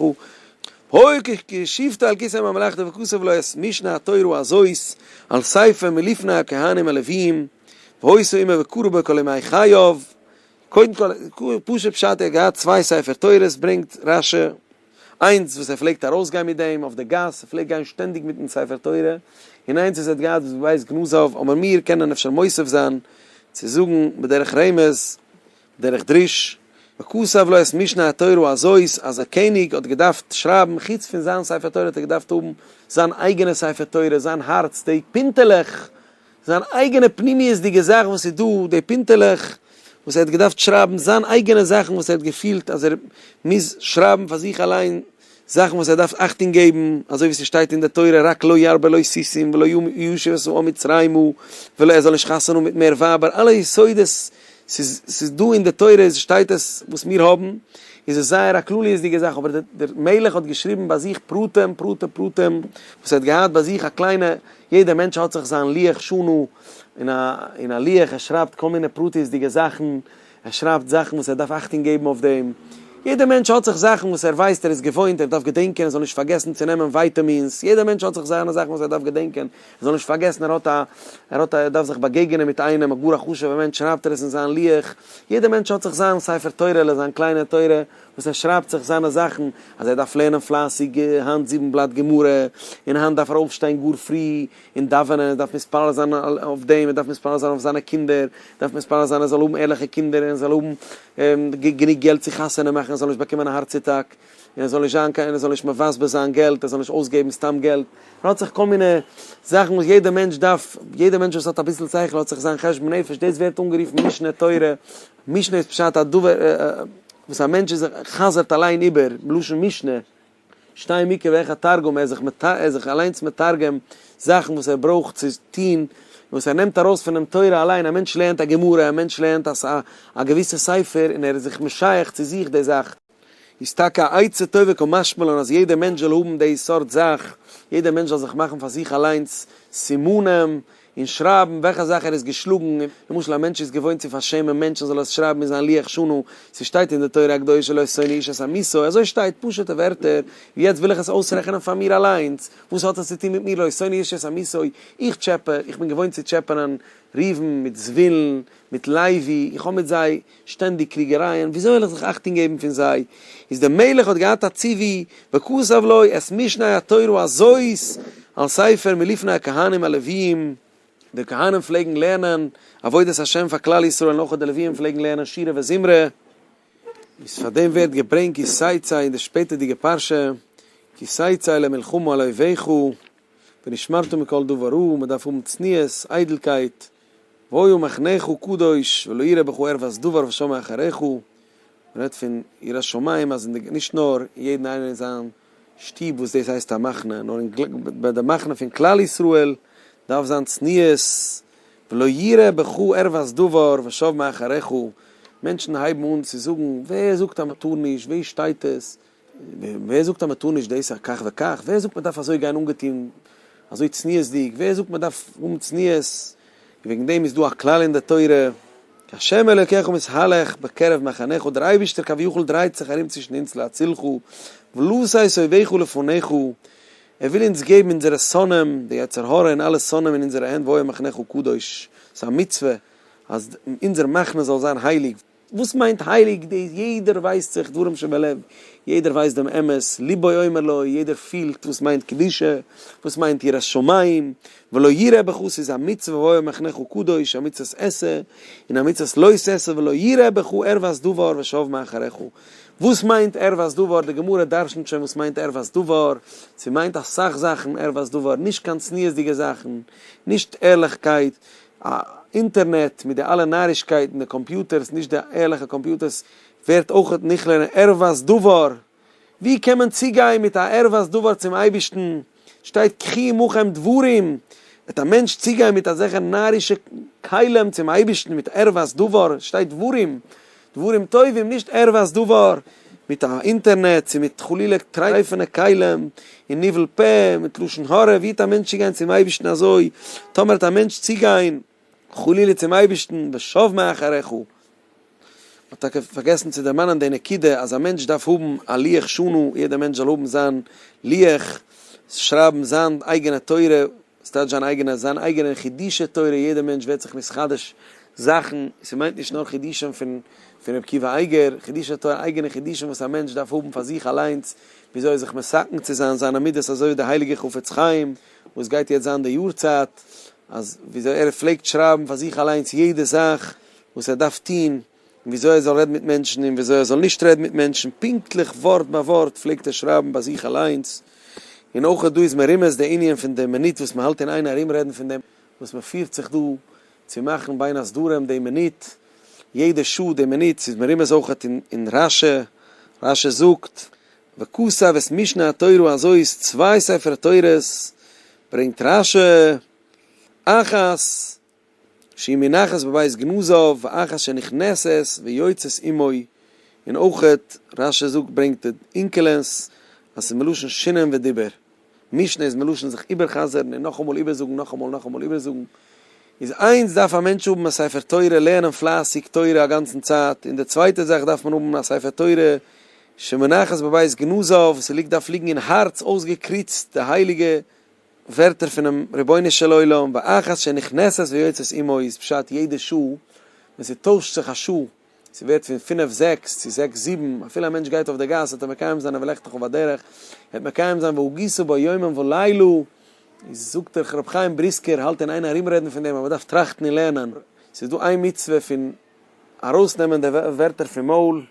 הוי ק כי שיבתה על כסא ממלכתו וכסף לא יעש, משנה התורה הזאת על ספר מלפני הכהנים הלוויים, והוי סא עמו וקרא בו כל ימי חייו, קודם כל, פשוט פשט ער האט געהאט צוויי ספר תורות ברענגט רש י, איינס וואס ער פלעגט ארויס גיין מיט דעם אויף די גאס, ער פלעגט גיין שטענדיג מיטן ספר תורה, און איינס וואס ער האט געהאט וואס ווייסט גנזאוו, אבער מיר קענען אפשר מוסיף זיין צו זאגן בדרך רמז, בדרך דרוש, וכתב לו את משנה התורה הזאת אז א קעניג האט געדארפט שרייבן חוץ פון זיין ספר תורה האט ער געדארפט האבן זיין אייגענע ספר תורה, זיין הארץ, די פינטעלעך. זיין אייגענע פנימיות'דיגע זאך וואס איז דא, די פינטעלעך וואס ער האט געדארפט שרייבן, זיין אייגענע זאכן וואס ער האט געפילט אז ער מוז שרייבן פאר זיך אליין, זאכן וואס ער דארף אכטונג געבן, אזוי ווי ס'שטייט אין די תורה רק לא ירבה לו סוסים ולא ישוב עשו או מצרימה, ולא ער זאל נישט חתונה האבן מיט מער ווייבער, אלע יסודות, ס'איז ס'איז דא אין די תורה איז שטייט עס וואס מיר האבן, איז עס זייער א כלליות'דיגע זאך, אבער דער מלך האט געשריבן ביי זיך פרטים פרטי פרטים וואס ער האט געהאט ביי זיך א קליינע יעדער מענטש האט זיך זיין לוח שנה, און א לוח, ער שרייבט כל מיני פרטיות'דיגע זאכן, ער שרייבט זאכן וואס ער דארף אכטונג געבן אויף דעם, יעדער מענטש האט זיך זאכן וואס ער ווייסט, ער איז געוואוינט, ער דארף געדענקען ער זאל נישט פארגעסן צו נעמען ווייטעמינס, יעדער מענטש האט זיך זיינע זאכן וואס ער דארף געדענקען, ער זאל נישט פארגעסן ער האט א, ער האט א, ער דארף זיך באגעגענען מיט איינעם, א גאר א חשוב'ער מענטש, שרייבט ער עס אין זיין לוח, יעדער מענטש האט זיך זיין ספר תורה'לע, זיין קליינע תורה. וואס ער שרייבט זיך זיינע זאכן אז ער דארף לערנען פלייסיג היינט זיבן בלאט גמרא, און היינט דארף ער אויפשטיין גאר פרי און דאווענען, ער דארף מתפלל זיין אויף דעם, ער דארף מתפלל זיין אויף זיינע קינדער, ער דארף מתפלל זיין ער זאל האבן ערליכע קינדער און ער זאל האבן גענוג געלט צו חתונה מאכן, ער זאל נישט באקומען א הארץ אטאק, און ער זאל נישט זיין קיין, ער זאל נישט מבזבז זיין געלט, ער זאל נישט אויסגעבן סתם געלט, ער האט זיך כל מיני זאכן וואס יעדער מענטש דארף, יעדער מענטש וואס האט אביסל שכל האט זיך זיין חשבון נפש, דאס ווערט אנגערופן משנה תורה. משנה איז פשט א דבר וואס א מענטש איז זיך חזר'ט אליין איבער, בלשון משנה, שתיים מקרא ואחד תרגום, ער איז זיך ער איז זיך אליינס מתרגם זאכן וואס ער ברויך צו טון, וואס ער נעמט ארויס פונעם תורה אליין, א מענטש לערנט א גמרא, א מענטש לערנט א געוויסע ספר און ער איז זיך משייך צו זיך די זאך. איז טאקע א עצה טובה קיין משמעלען אז יעדער מענטש זאל האבן די סארט זאך, יעדער מענטש זאל זיך מאכן פאר זיך אליינס סימנים און שרייבן וועלכע זאך ער איז געשלאגן, למשל א מענטש איז געוואוינט צו פארשעמען מענטשן זאל ער עס שרייבן אין זיין לוח שנה, ס'שטייט אין די תורה הקדושה לא שונא איש את עמיתו, אזוי שטייט, פשוט'ע ווערטער, ווי יעצט וויל איך עס אויסרעכענען פאר מיר אליינס, וואס האט עס צו טון מיט מיר לא שונא איש את עמיתו, איך טשעפע, איך בין געוואוינט צו טשעפענען ראובן מיט זבולון מיט לוי, איך האב מיט זיי. שטענדיג קריגערייען, וויאזוי וועל איך זיך אכטונג געבן פון זיי? איז דער מלך האט געהאט א ציווי, וכתב לו את משנה התורה הזאת על ספר מלפני הכהנים הלוויים, די כהנים פלעגן לערנען עבודת השם פאר כלל ישראל נאכער די לוויים פלעגן לערנען שירה וזמרה, איז פאר דעם ווערט געברענגט כי סייצא אין די שפעטערדיגע פרשה, כי סייצא למלחמה על אויביך, ונשמרתם מכל דבר רע, מען דארף האבן צניעות, איידלקייט, והוי מחנך קדוש ולא ירא בך ערווס דבר ושמע אחריך, מען רעדט פון יראת שמים אז אין די נישט נאר יעדן איינער אין זיין שטוב וואס דאס הייסט א מחנה נאר ביי די מחנה פון כלל ישראל דארף זיין צניעות, ולא ירא בך ערווס דבר ושמע אחריך, מענטשן הייבן אן צו זאגן ווער זאגט אז מען טאר נישט, וואו שטייט עס? ווער זאגט אז מען טאר נישט דאס א כך וכך? ווער זאגט מען דארף אזוי גיין אנגעטון אזוי צניעות'דיג? ווער זאגט מען דארף האבן צניעות? וועגן דעם איז דא א כלל אין די תורה, כי השם אלוקיך מתהלך בקרב מחניך, דער אייבישטער כביכול דרייט זיך ארום צווישן אונז להצילך, ולא שש אויביך לפניך, ער וויל אונז געבן אונזערע שונאים, די יצר הרע און אלע שונאים אין אונזערע הענט, והוי מחנך הקדוש, ס'איז א מצוה אז אונזער מחנה זאל זיין הייליג, וואס מיינט הייליג דאס? יעדער ווייסט זיך דברים שבלב, יעדער ווייסט דעם אמת, ליבו אומר לו, יעדער פילט וואס מיינט קדושה, וואס מיינט יראת שמים, ולא יראה בך ס'איז א מצוה הוי מחנך קדוש, א מצוות עשה, און א מצוות לא תעשה, ולא יראה בך ערוות דבר ושב מאחריך. וואס מיינט ערוות דבר? די גמרא דרשנ'ט שוין וואס מיינט ערוות דבר, ס'מיינט אסאך זאכן ערוות דבר, נישט קיין צניעות'דיגע זאכן, נישט ערליכקייט, א אינטערנעט מיט די אלע נארישקייטן, די קאמפיוטערס, נישט די ערליכע קאמפיוטערס, ווערט אויך נכלל אין ערוות דבר. ווי קען מען צוגיין מיט א ערוות דבר צום אייבערשטן? שטייט קחי עמכם דברים. וועט א מענטש צוגיין מיט אזעלכע נארישע כלים צום אייבערשטן מיט ערוות דבר? שטייט דברים. דברים טובים, נישט ערווייס דבר, מיט א אינטערנעט, צו מיט חלילה טרייפענע כלים, און ניבול פה, מיט לשון הרע, ווי האט א מענטש צוגיין צום אייבערשטן אזוי, טאמער האט א מענטש צוגיין חלילה צום אייבערשטן ושב מאחריך, מ'האט טאקע פארגעסן צו דערמאנען די נקודה אז א מענטש דארף האבן א לוח שנה, יעדע מענטש זאל האבן זיין לוח, שרייבן זיין אייגענע תורה. עס טייטש זיין אייגענע זיין אייגענער חידושי תורה, יעדער מענטש ווערט זיך מתחדש זאכן, עס מיינט נישט נאר חידושים פון פון ר' עקיבא אייגער, חידושי תורה אייגענע חידושים וואס א מענטש דארף האבן פאר זיך אליינס, וויאזוי זיך מסכן צו זיין זיינע מידות אזוי ווי די הייליגע חפץ חיים וואס גייט יעצט זיין די יארצייט, אז וויאזוי ער פלעגט שרייבן פאר זיך אליינס יעדע זאך וואס ער דארף טון. און וויאזוי ער זאל רעדן מיט מענטשן און וויאזוי ער זאל נישט רעדן מיט מענטשן, פונקטליך ווארט ביי ווארט פלעגט ער שרייבן ביי זיך אליינס, און אויך דא איז מרומז די ענין פון די מינוט וואס מען האלט אין איין ארום רעדן פון דעם וואס מען פירט זיך דא צו מאכן בין הסדרים די מינוט, יעדע שעה די מינוט, ס'איז מרומז אויך אין רש י, רש י זאגט, וכתב את משנה התורה אזוי איז צוויי ספר תורות ברענגט רש י, אחת. שהיא מונחת בבית גנוזיו ואחר שנכנסת ויוצאת עמו, און אויכעט רש י זאגט ברענגט די אינקלענס אז ס'איז מלשון שינון ודיבור, משנה איז מלשון זיך איבער'חזר'ן און נאכאמאל איבערזאגן נאכאמאל נאכאמאל איבערזאגן, איז איינס דארף א מענטש האבן א ספר תורה לערנען פלייסיג תורה א גאנצן צייט, און די צווייטע זאך דארף מען האבן א ספר תורה שמונחת בבית גנוזיו, ס'ליגט דארף ליגן אין הארץ אויסגעקריצט די הייליגע ווערטער פונעם רבונו של עולם, ואחת שנכנסת ויוצאת עמו איז פשט יעדע שעה ווען ס'טוישט זיך א שעה, ס'ווערט פון פינף זעקס צו זעקס זיבן, אפילו א מענטש גייט אויף דער גאס וועט ער מקיים זיין אויף לכתך ובדרך, וועט מקיים זיין והגיסו בו יומם ולילה, איז זאגט דער רבי חיים בריסקער, האלט אין איין ארומרעדן פון דעם אז מ'דארף טראכטן און לערנען, ס'איז דא איין מצוה פון ארויסנעמען די ווערטער פון מויל,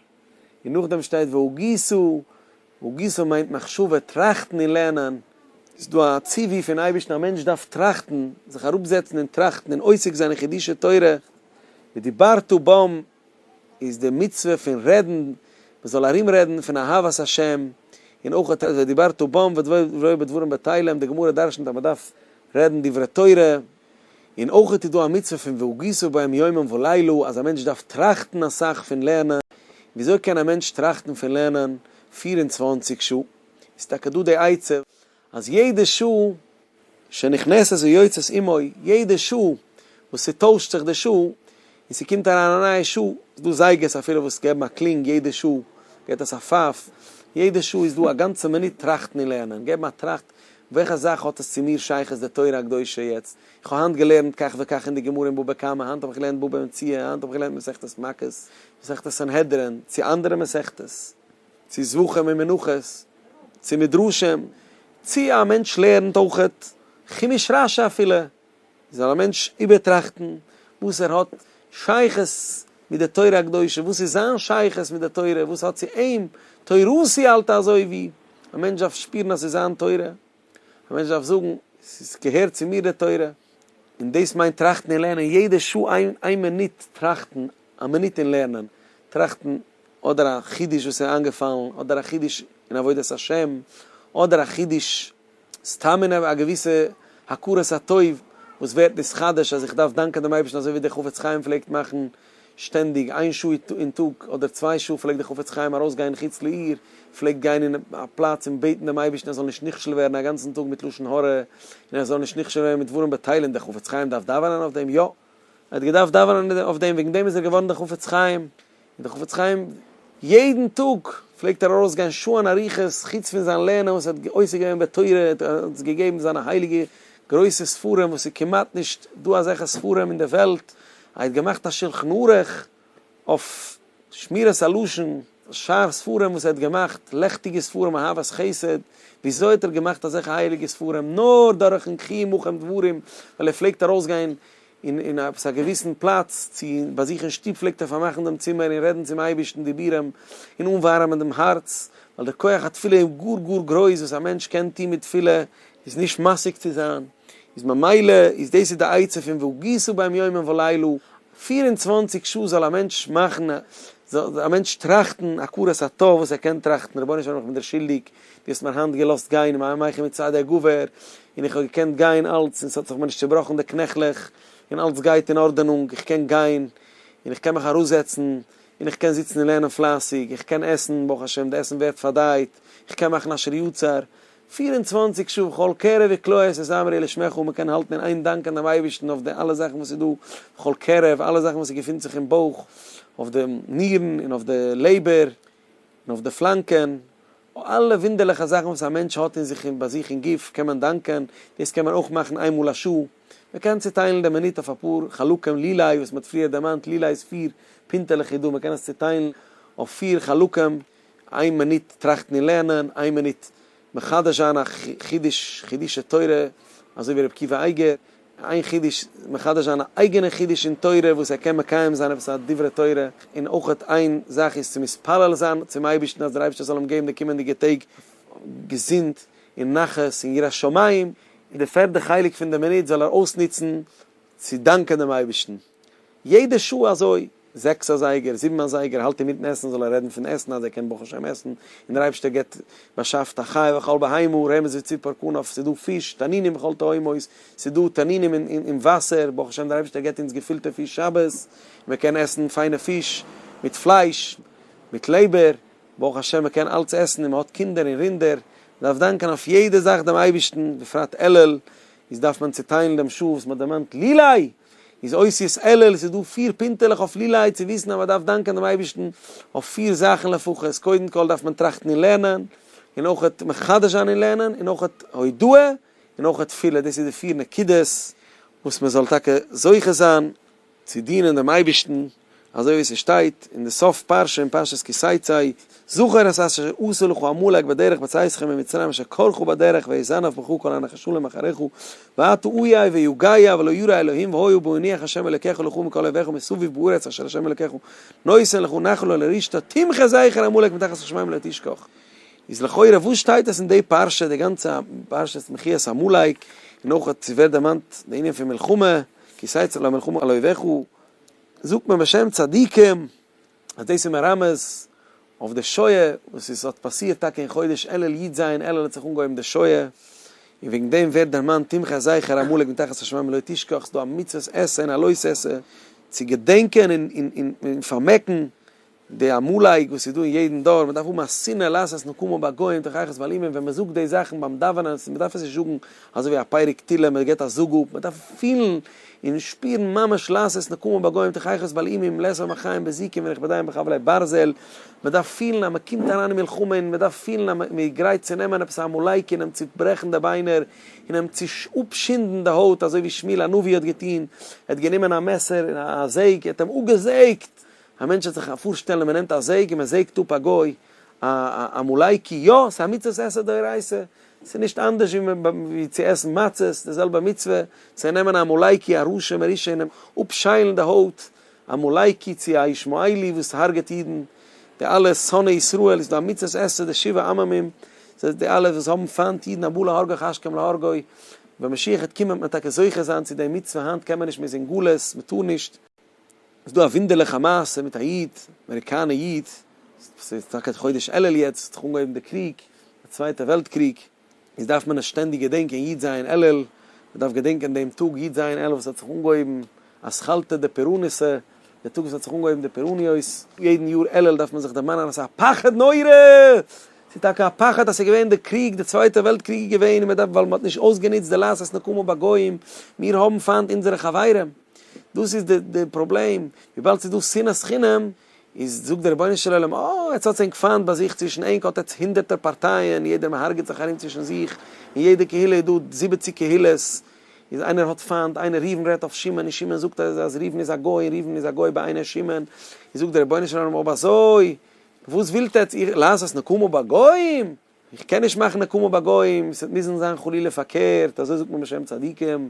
און נאכדעם שטייט והגיסו. הגיסה מיינט מחשבה, טראכטן און לערנען. איז דא א ציווי פון אייבערשטן א מענטש דארף טראכטן, זיך אראפזעצן און טראכטן און עוסק זיין אין חידושי תורה, ודיברת בם איז די מצוה פון רעדן, מען זאל ארום רעדן פון אהבת השם, און אויך האט עס ודיברת בם ודברו בדברים בטלים, די גמרא דרשנ'ט אז מען דארף רעדן דברי תורה. און אויך איז דא א מצוה פון והגיסו בהם יומם ולילה אז א מענטש דארף טראכטן אסאך פון לערנען, וויאזוי קען א מענטש טראכטן פון לערנען פֿיר און צוואַנציק שעה? איז טאקע דא די עצה אז יעדע שעה שנכנסת ויוצאת עמו, יעדע שעה וואס ס'טוישט זיך די שעה, און ס'קומט אריין א נייע שעה, איז דא זייגערס אפילו וואס געבן א קלינג יעדע שעה, געט עס א פייף, יעדע שעה איז דא א גאנצע מינוט טראכטן און לערנען, געבן א טראכט, וועלכע זאך האט עס צו מיר שייכות די תורה הקדושה יעצט, איך האב היינט געלערנט כך וכך אין די גמרא אין בבא קמא, היינט האב איך געלערנט בבא מציעא, היינט האב איך געלערנט מסכת מכות, מסכת סנהדרין, צו אנדערע מסכתות, צו זבחים און מנחות, צו מדרשים, צו א מענטש לערנט אויך כימוש רשי אפילו. זאל א מענטש איבערטראכטן וואס ער האט שייכות מיט די תורה הקדושה, וואס איז זיין שייכות מיט די תורה, וואס האט צו אים תורתי אל תעזובי, א מענטש דארף שפירן אז עס איז זיין תורה, א מענטש דארף זאגן עס געהערט צו מיר די תורה, און דאס מיינט טראכטן און לערנען יעדע שעה, איין איין מינוט טראכטן, א מינוט אין לערנען, טראכטן אדער א חידוש וואס איז איינגעפאלן, אדער א חידוש אין עבודת השם, אדער א חידוש. סתם אין א געוויסע הכרת הטוב וואס ווערט נתחדש אז איך דארף דאנקען דעם אייבערשטן אזוי ווי דער חפץ חיים פלעגט מאכן שטענדיג איין שעה אין טאג אדער צוויי שעה פלעגט דער חפץ חיים ארויסגיין חוץ לעיר פלעגט גיין אין א פלאץ און בעטן דעם אייבערשטן ער זאל נישט נכשל ווערן א גאנצן טאג מיט לשון הרע און ער זאל נישט נכשל ווערן מיט דברים בטלים דער חפץ חיים דארף דאווענען אויף דעם? יא! ער האט געדארפט דאווענען אויף דעם, וועגן דעם איז ער געווארן דער חפץ חיים, און דער חפץ חיים יעדן טאג פלעגט ער ארויסגיין שעה'ן אריכות, חוץ פון זיין לערנען וואס ער האט עוסק געווען בתורה, ער האט אונז געגעבן זיינע הייליגע גרויסע ספרים וואס איז כמעט נישט דא אזעלכע ספרים אין די וועלט, ער האט געמאכט א שלחן ערוך, אויף שמירת הלשון, שאר ספרים וואס ער האט געמאכט, לעכטיגע ספרים, אהבת חסד, וויאזוי האט ער געמאכט אזעלכע הייליגע ספרים? נאר דורכן קריען מכם דברים, ווייל ער פלעגט ארויסגיין אין אין עפעס א געוויסן פלאץ, צו ביי זיך אין שטוב פלעגט ער פארמאכן דעם צימער און רעדן צום אייבערשטן דיבורים און אנווארעמען דעם הארץ, ווייל דער כח התפילה איז גאר גאר גרויס וואס א מענטש קען טון מיט תפילה, איז נישט משיג צו זיין, איז ממילא איז דאס איז די עצה פון והגיסו בהם יומם ולילה, פֿיר און צוואַנציק שעה זאל א מענטש מאכן, זאל א מענטש טראכטן הכרת הטוב וואס ער קען טראכטן, רבונו של עולם איך בין דיר שולדיג, דו האסט מיר היינט געלאזט גיין אין מיין מח מצד הגבר, און איך האב געקענט גיין אלץ און ס'האט זיך מיר נישט צובראכן די קנעכלעך, און אלץ גייט אין ארדענונג, איך קען גיין, און איך קען מיך אראפזעצן, און איך קען זיצן און לערנען פלייסיג, איך קען עסן, ברוך השם די עסן ווערט פארדייט, איך קען מאכן אשר יצר, פֿיר און צוואַנציק שעה כל קרע וקלוע עשה זמרי לשמך און מען קען האלטן אין איין דאנקען דעם אייבערשטן אויף די אלע זאכן וואס איז דא כל קרע אויף אלע זאכן וואס געפינט זיך אין בויך אויף די נירן און אויף די לעבער און אויף די פלאנקען אלע וואונדערליכע זאכן וואס א מענטש האט אין זיך און ביי זיך אין גוף קען מען דאנקען דאס קען מען אויך מאכן איין מאל א שעה מען קען צוטיילן די מינוט אויף אפאר חלקים לילאי וואס מען האט פריער דערמאנט לילאי איז פיר פינטעלעך איז דא מען קען עס צוטיילן אויף פיר חלקים איין מינוט טראכטן און לערנען, איין מינוט מחדש זיין א חידוש, חידושי תורה, אזוי ווי ר' עקיבא אייגער, איין חידוש מחדש זיין א אייגענע חידוש אין תורה וואס ער קען מקיים זיין עפעס א דברי תורה, און אויך איין זאך איז צו מתפלל זיין צום אייבערשטן אז דער אייבערשטער זאל אים געבן די קומענדיגע טעג געזונט און נחת און יראת שמים, און די פערדע חלק פון די מינוט זאל ער אויסנוצן צו דאנקען דעם אייבערשטן. יעדע שעה אזוי, זעקס אזייגער, זיבן אזייגער, האלט אים מיטן עסן, זאל ער רעדן פון עסן אז ער קען ברוך השם עסן, און דער אייבערשטער געבט, באשאפט א חי וכל בהמה, רמז וציפור כנף, ס'איז דא פיש, תנינים בכל תהומות, ס'איז דא תנינים אין וואסער, ברוך השם דער אייבערשטער געבט אונז געפילטע פיש שבת, מען קען עסן פיינע פיש, מיט פלייש, מיט לעבער, ברוך השם מען קען אלץ עסן, און מען האט קינדער און רינדער, מען דארף דאנקען אויף יעדע זאך דעם אייבערשטן, בפרט אלול, איז דארף מען צוטיילן דעם שעה וואס מען דערמאנט לי-לי! איז אות יז עליל, ס'איז דא פיר פינטעלעך אויף לילאי צו וויסן אז מען דארף דאנקען דעם אייבערשטן אויף פיר זאכן לפחות, קודם כל דארף מען טראכטן און לערנען, און אויכעט מחדש זיין און לערנען, און אויכעט הודאה, און אויכעט תפילה, דאס איז די פיר נקודות וואס מען זאל טאקע זוכה זיין צו דינען דעם אייבערשטן. אזוי ווי ס'שטייט אין די סוף פרשה אין פרשת כי שאתי, זכור את אשר עשה לך עמלק בדרך בצאת ידך ממצרים אשר כרך בדרך ויזנב בך כל הנחשלים אחריך ואתה אויה ויגעיה ולא ירא אלהים והוי הוא בהניח ה' אלקיך לך מכל אויביך ומסביב בארץ אשר ה' אלקיך נותן לך נחלה ולרשתה תמחה זכר עמלק מתחת השמים לא תשכח. איז לכאורה וואס שטייט עס אין די פרשה די גאנצע פרשת מחיית עמלק און אויך צו ווערט דערמאנט די ענין פון מלחמה כי שאת לך מלחמה על אויביך זאגט מען בשם צדיקים אז דאס איז מרמז אויף די שואה וואס עס האט פאסירט טאקע אין חודש אלול י ז אלול האט זיך אנגעהויבן די שואה, און וועגן דעם ווערט דערמאנט תמחה זכר עמלק מתחת השמים לא תשכח, ס'איז דא א מצוות עשה און א לוי' עשה צו געדענקען און פארמעקן די עמלק וואס איז דא אין יעדן דור, מ'דארף האבן א שנאה לעשות נקמה בגוים תוכחת ועל אימים, ווען מ'זאגט די זאכן ביים דאווענען, מ'דארף עס נישט זאגן אזוי ווי א פרק תהילים, מ'גיבט א זאג אפ, מ'דארף פילן און שפירן ממש לעשות נקמה בגוים תוכחת ועל אימים, לעת עתה מחיים בזיקים ווען איך בין דאהיים בחבלי ברזל, מ'דארף פילן אז מ'קומט אריין אין מלחמה און מ'דארף פילן אז מ'איז גרייט צו נעמען עפעס א עמלק און אים צוברעכן די ביינער און אים אפשינדן די הויט, אזוי ווי שמואל הנביא האט געטון, ער האט גענומען א מעסער און א זעג, ער האט אים אפגעזעגט! א מענטש וועט זיך פארשטעלן מען נעמט א זעג און מען זעגט אפ א גוי א עמלקי, יא ס'איז א מצוות עשה דאורייתא, ס'איז נישט אנדערש ווי צו עסן מצות, די זעלבע מצוה צו נעמען א עמלקי א רשע מרושע און אים אפשיילן די הויט, עמלקי צו א ישמעאלי וואס הרג'ט אידן, די אלע שונאי ישראל איז דא א מצוות עשה די שבעה עממים, די אלע וואס האבן פיינט אידן הבא להרגך השכם להרגו, ווען משיח וועט קומען וועט מען טאקע זוכה זיין צו די מצוה, היינט קען מען נישט מען איז אין גלות מען טאר נישט, איז דא א ווינדערליכע מעשה מיט א איד, אמעריקאנע איד, ס'איז טאקע חודש אלול יעצט, ס'האט זיך אנגעהויבן די קריג, די צווייטע וועלט קריג, איז דארף מען עס שטענדיג געדענקען י' זיין אלול, מ'דארף געדענקען דעם טאג י' זיין אלול וואס האט זיך אנגעהויבן אז כלתה די פורענוסע, די טאג וואס האט זיך אנגעהויבן די פורעניות, יעדן יאר אלול דארף מען זיך דערמאנען אז ס'איז א פחד נורא! ס'איז טאקע א פחד אז ס'איז געווען די קריג, די צווייטע וועלט קריג איז געווען און מ'דארף ווייל מ'האט נישט אויסגענוצט די לעשות נקמה בגוים, מיר האבן פיינט אונזערע חברים. דאס איז די די פראבלעם, וויבאלד ס'איז דא שנאת חינם, איז זאגט דער רבונו של עולם, אה, יעצט האט ענק פיינט ביי זיך, צווישן ענק האט עטס הונדערטער פארטייען, יעדער מהרג'עט זיך ארום צווישן זיך, אין יעדע קהילה איז דא זיבעציג קהילות, איז איינער האט פיינט איינער, ראובן רעדט אויף שמעון, און שמעון זאגט אז אז ראובן איז א גוי, און ראובן איז א גוי בעיני שמעון, איז זאגט דער רבונו של עולם, אויב אזוי, וואס ווילט עטס, איר לעשות נקמה בגויים? איך קען נישט מאכן נקמה ביי גוים, ס'וועט מוזן זיין חלילה פארקערט, אזוי זאגט מען בשם צדיקים,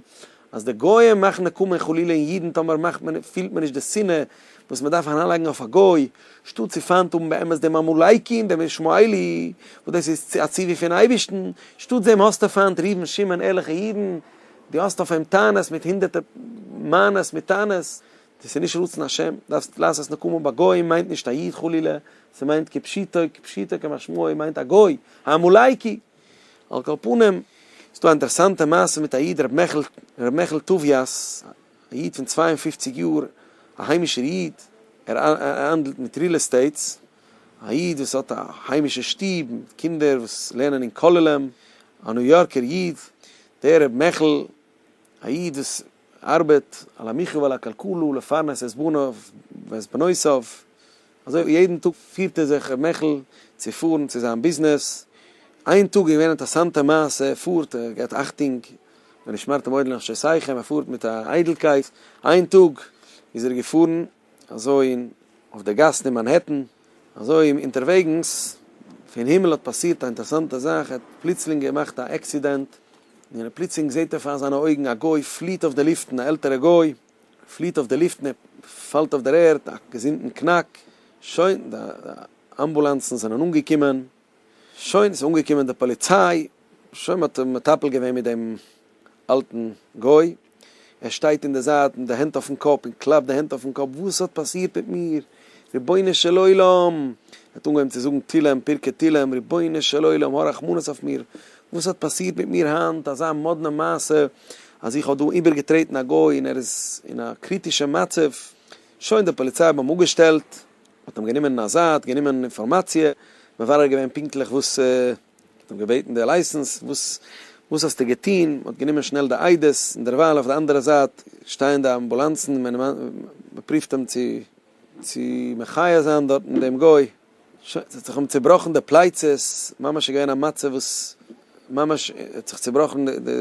אז די גוים מאכן נקמה חלילה אין אידן טאמער מאכט מען פילט מען נישט די שנאה וואס מען דארף אריינלייגן אויף א גוי, שטאט צו פיינט האבן באמת דעם עמלקי און דעם ישמעאלי, וואס דאס איז א ציווי פון אייבערשטן, שטאט דעם האסטו פיינט ראובן שמעון ערליכע אידן, דו האסט אויף אים טענות מיט הונדערטער מענות מיט טענות, דאס איז נישט רצון השם, דארפסט לעשות נקמה בגויים מיינט נישט א איד חלילה, ס'מיינט כפשיטו, כפשיטו כמשמעו מיינט א גוי, א עמלקי! על כל פנים, ס'דא א אינטערעסאנטע מעשה מיט א איד ר' מעכל טוביאס, א איד פון צוויי און פֿופֿציק יאר, א היימישער איד, ער האנדלט מיט ריעל עסטעיטס, א איד וואס האט א היימישע שטוב, מיט קינדער וואס לערנען אין כוללים, א ניו יארקער איד, דער ר' מעכל, א איד וואס ארבעט, על המחיה ועל הכלכלה, לפרנס את בניו ואת בנותיו, אזוי יעדן טאג פירט ער זיך ר' מעכל צו פארן צו זיין ביזנעס, איין טאג איז געווען אינטערסאנטע מעשה, ער פארט, ער געבט אכטונג, ונשמרתם מאוד לנפשותיכם, ער פארט מיט א איידלקייט, איין טאג איז ער געפארן אזוי אויף די גאסן אין מאנהעטן, אזוי אונטערוועגנס פון הימל האט פאסירט א אינטערסאנטע זאך, ער האט פלוצלינג געמאכט א עקסידענט, און ער פלוצלינג זעט ער פאר זיינע אויגן א גוי פליעט אויף די לופטן, א עלטערע גוי פליעט אויף די לופטן, ער פאלט אויף דער ערד, א געזונטן קנאק, שוין, די אמבולאנסן זענען אנגעקומען. שוין איז אנגעקומען די פאליציי, שוין מען האט מטפל געווען מיט דעם אלטן גוי, ער שטייט אין די זייט מיט די הענט אויפן קאפ און קלאפט די הענט אויפן קאפ, וואס האט פאסירט מיט מיר? רבונו של עולם! ער האט אנגעהויבן צו זאגן תהילים, פרקי תהילים, רבונו של עולם, הא רחמנות אויף מיר, וואס האט פאסירט מיט מיר היינט, אזא מאדנע מעשה, אז איך האב דא איבערגעטרעטן א גוי און ער איז אין א קריטישע מצב, שוין די פאליציי האבן אים אפגעשטעלט, מען האט אים גענומען אין א זייט, גענומען אינפארמאציע, מברר געווען פונקטליך וואס, מען האט אים געבעטן די לייסענס, וואס וואס האסטו געטון, מען האט גענומען שנעל די איידעס, און דערווייל אויף די אנדערע זייט שטייען די אמבולאנסן, מען פרופט אים צו צו מחיה זיין דארטן דעם גוי, שוין, ס'האט זיך אים צובראכן די פלייצעס, ממש געווען א מצב וואס ממש האט זיך צובראכן די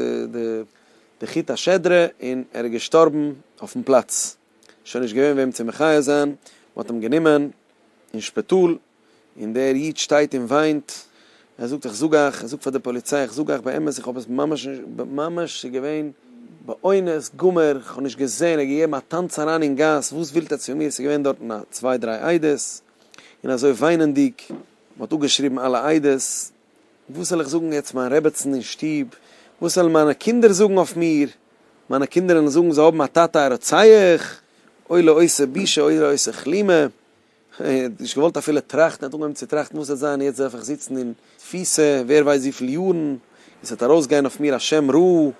די חוט השדרה, און ער איז געשטארבן אויפן פלאץ. שוין נישט געווען וועם צו מחיה זיין, מען האט אים גענומען אין שפיטאל, און דער איד שטייט און וויינט, ער זאגט איך זאג אייך, ער זאגט פאר די פאליציי איך זאג אייך באמת איך האב עס ממש נישט, ממש ס'איז געווען באונס גמור, איך האב נישט געזען, ער האט געגעבן א טאנץ אריין אין גאס, וואס ווילט ער צו מיר, ס'איז געווען דארטן א צוויי דריי עדות, און אזוי וויינענדיג, מען האט אפגעשריבן אלע עדות, וואס זאל איך זאגן יעצט מיין רעבעצן אין שטוב? וואס וועלן מיינע קינדער זאגן אויף מיר? מיינע קינדער וועלן זאגן זיי האבן א טאטע א רוצח? אוי לו עושה בושה אוי לו עושה כלימה. איך האב נישט געוואלט אפילו טראכטן, איך האב אנגעהויבן צו טראכטן וואס וועט זיין יעצט דארף איך זיצן אין תפיסה ווער ווייסט וויפיל יארן, עס וועט ארויסגיין אויף מיר א שם רע, און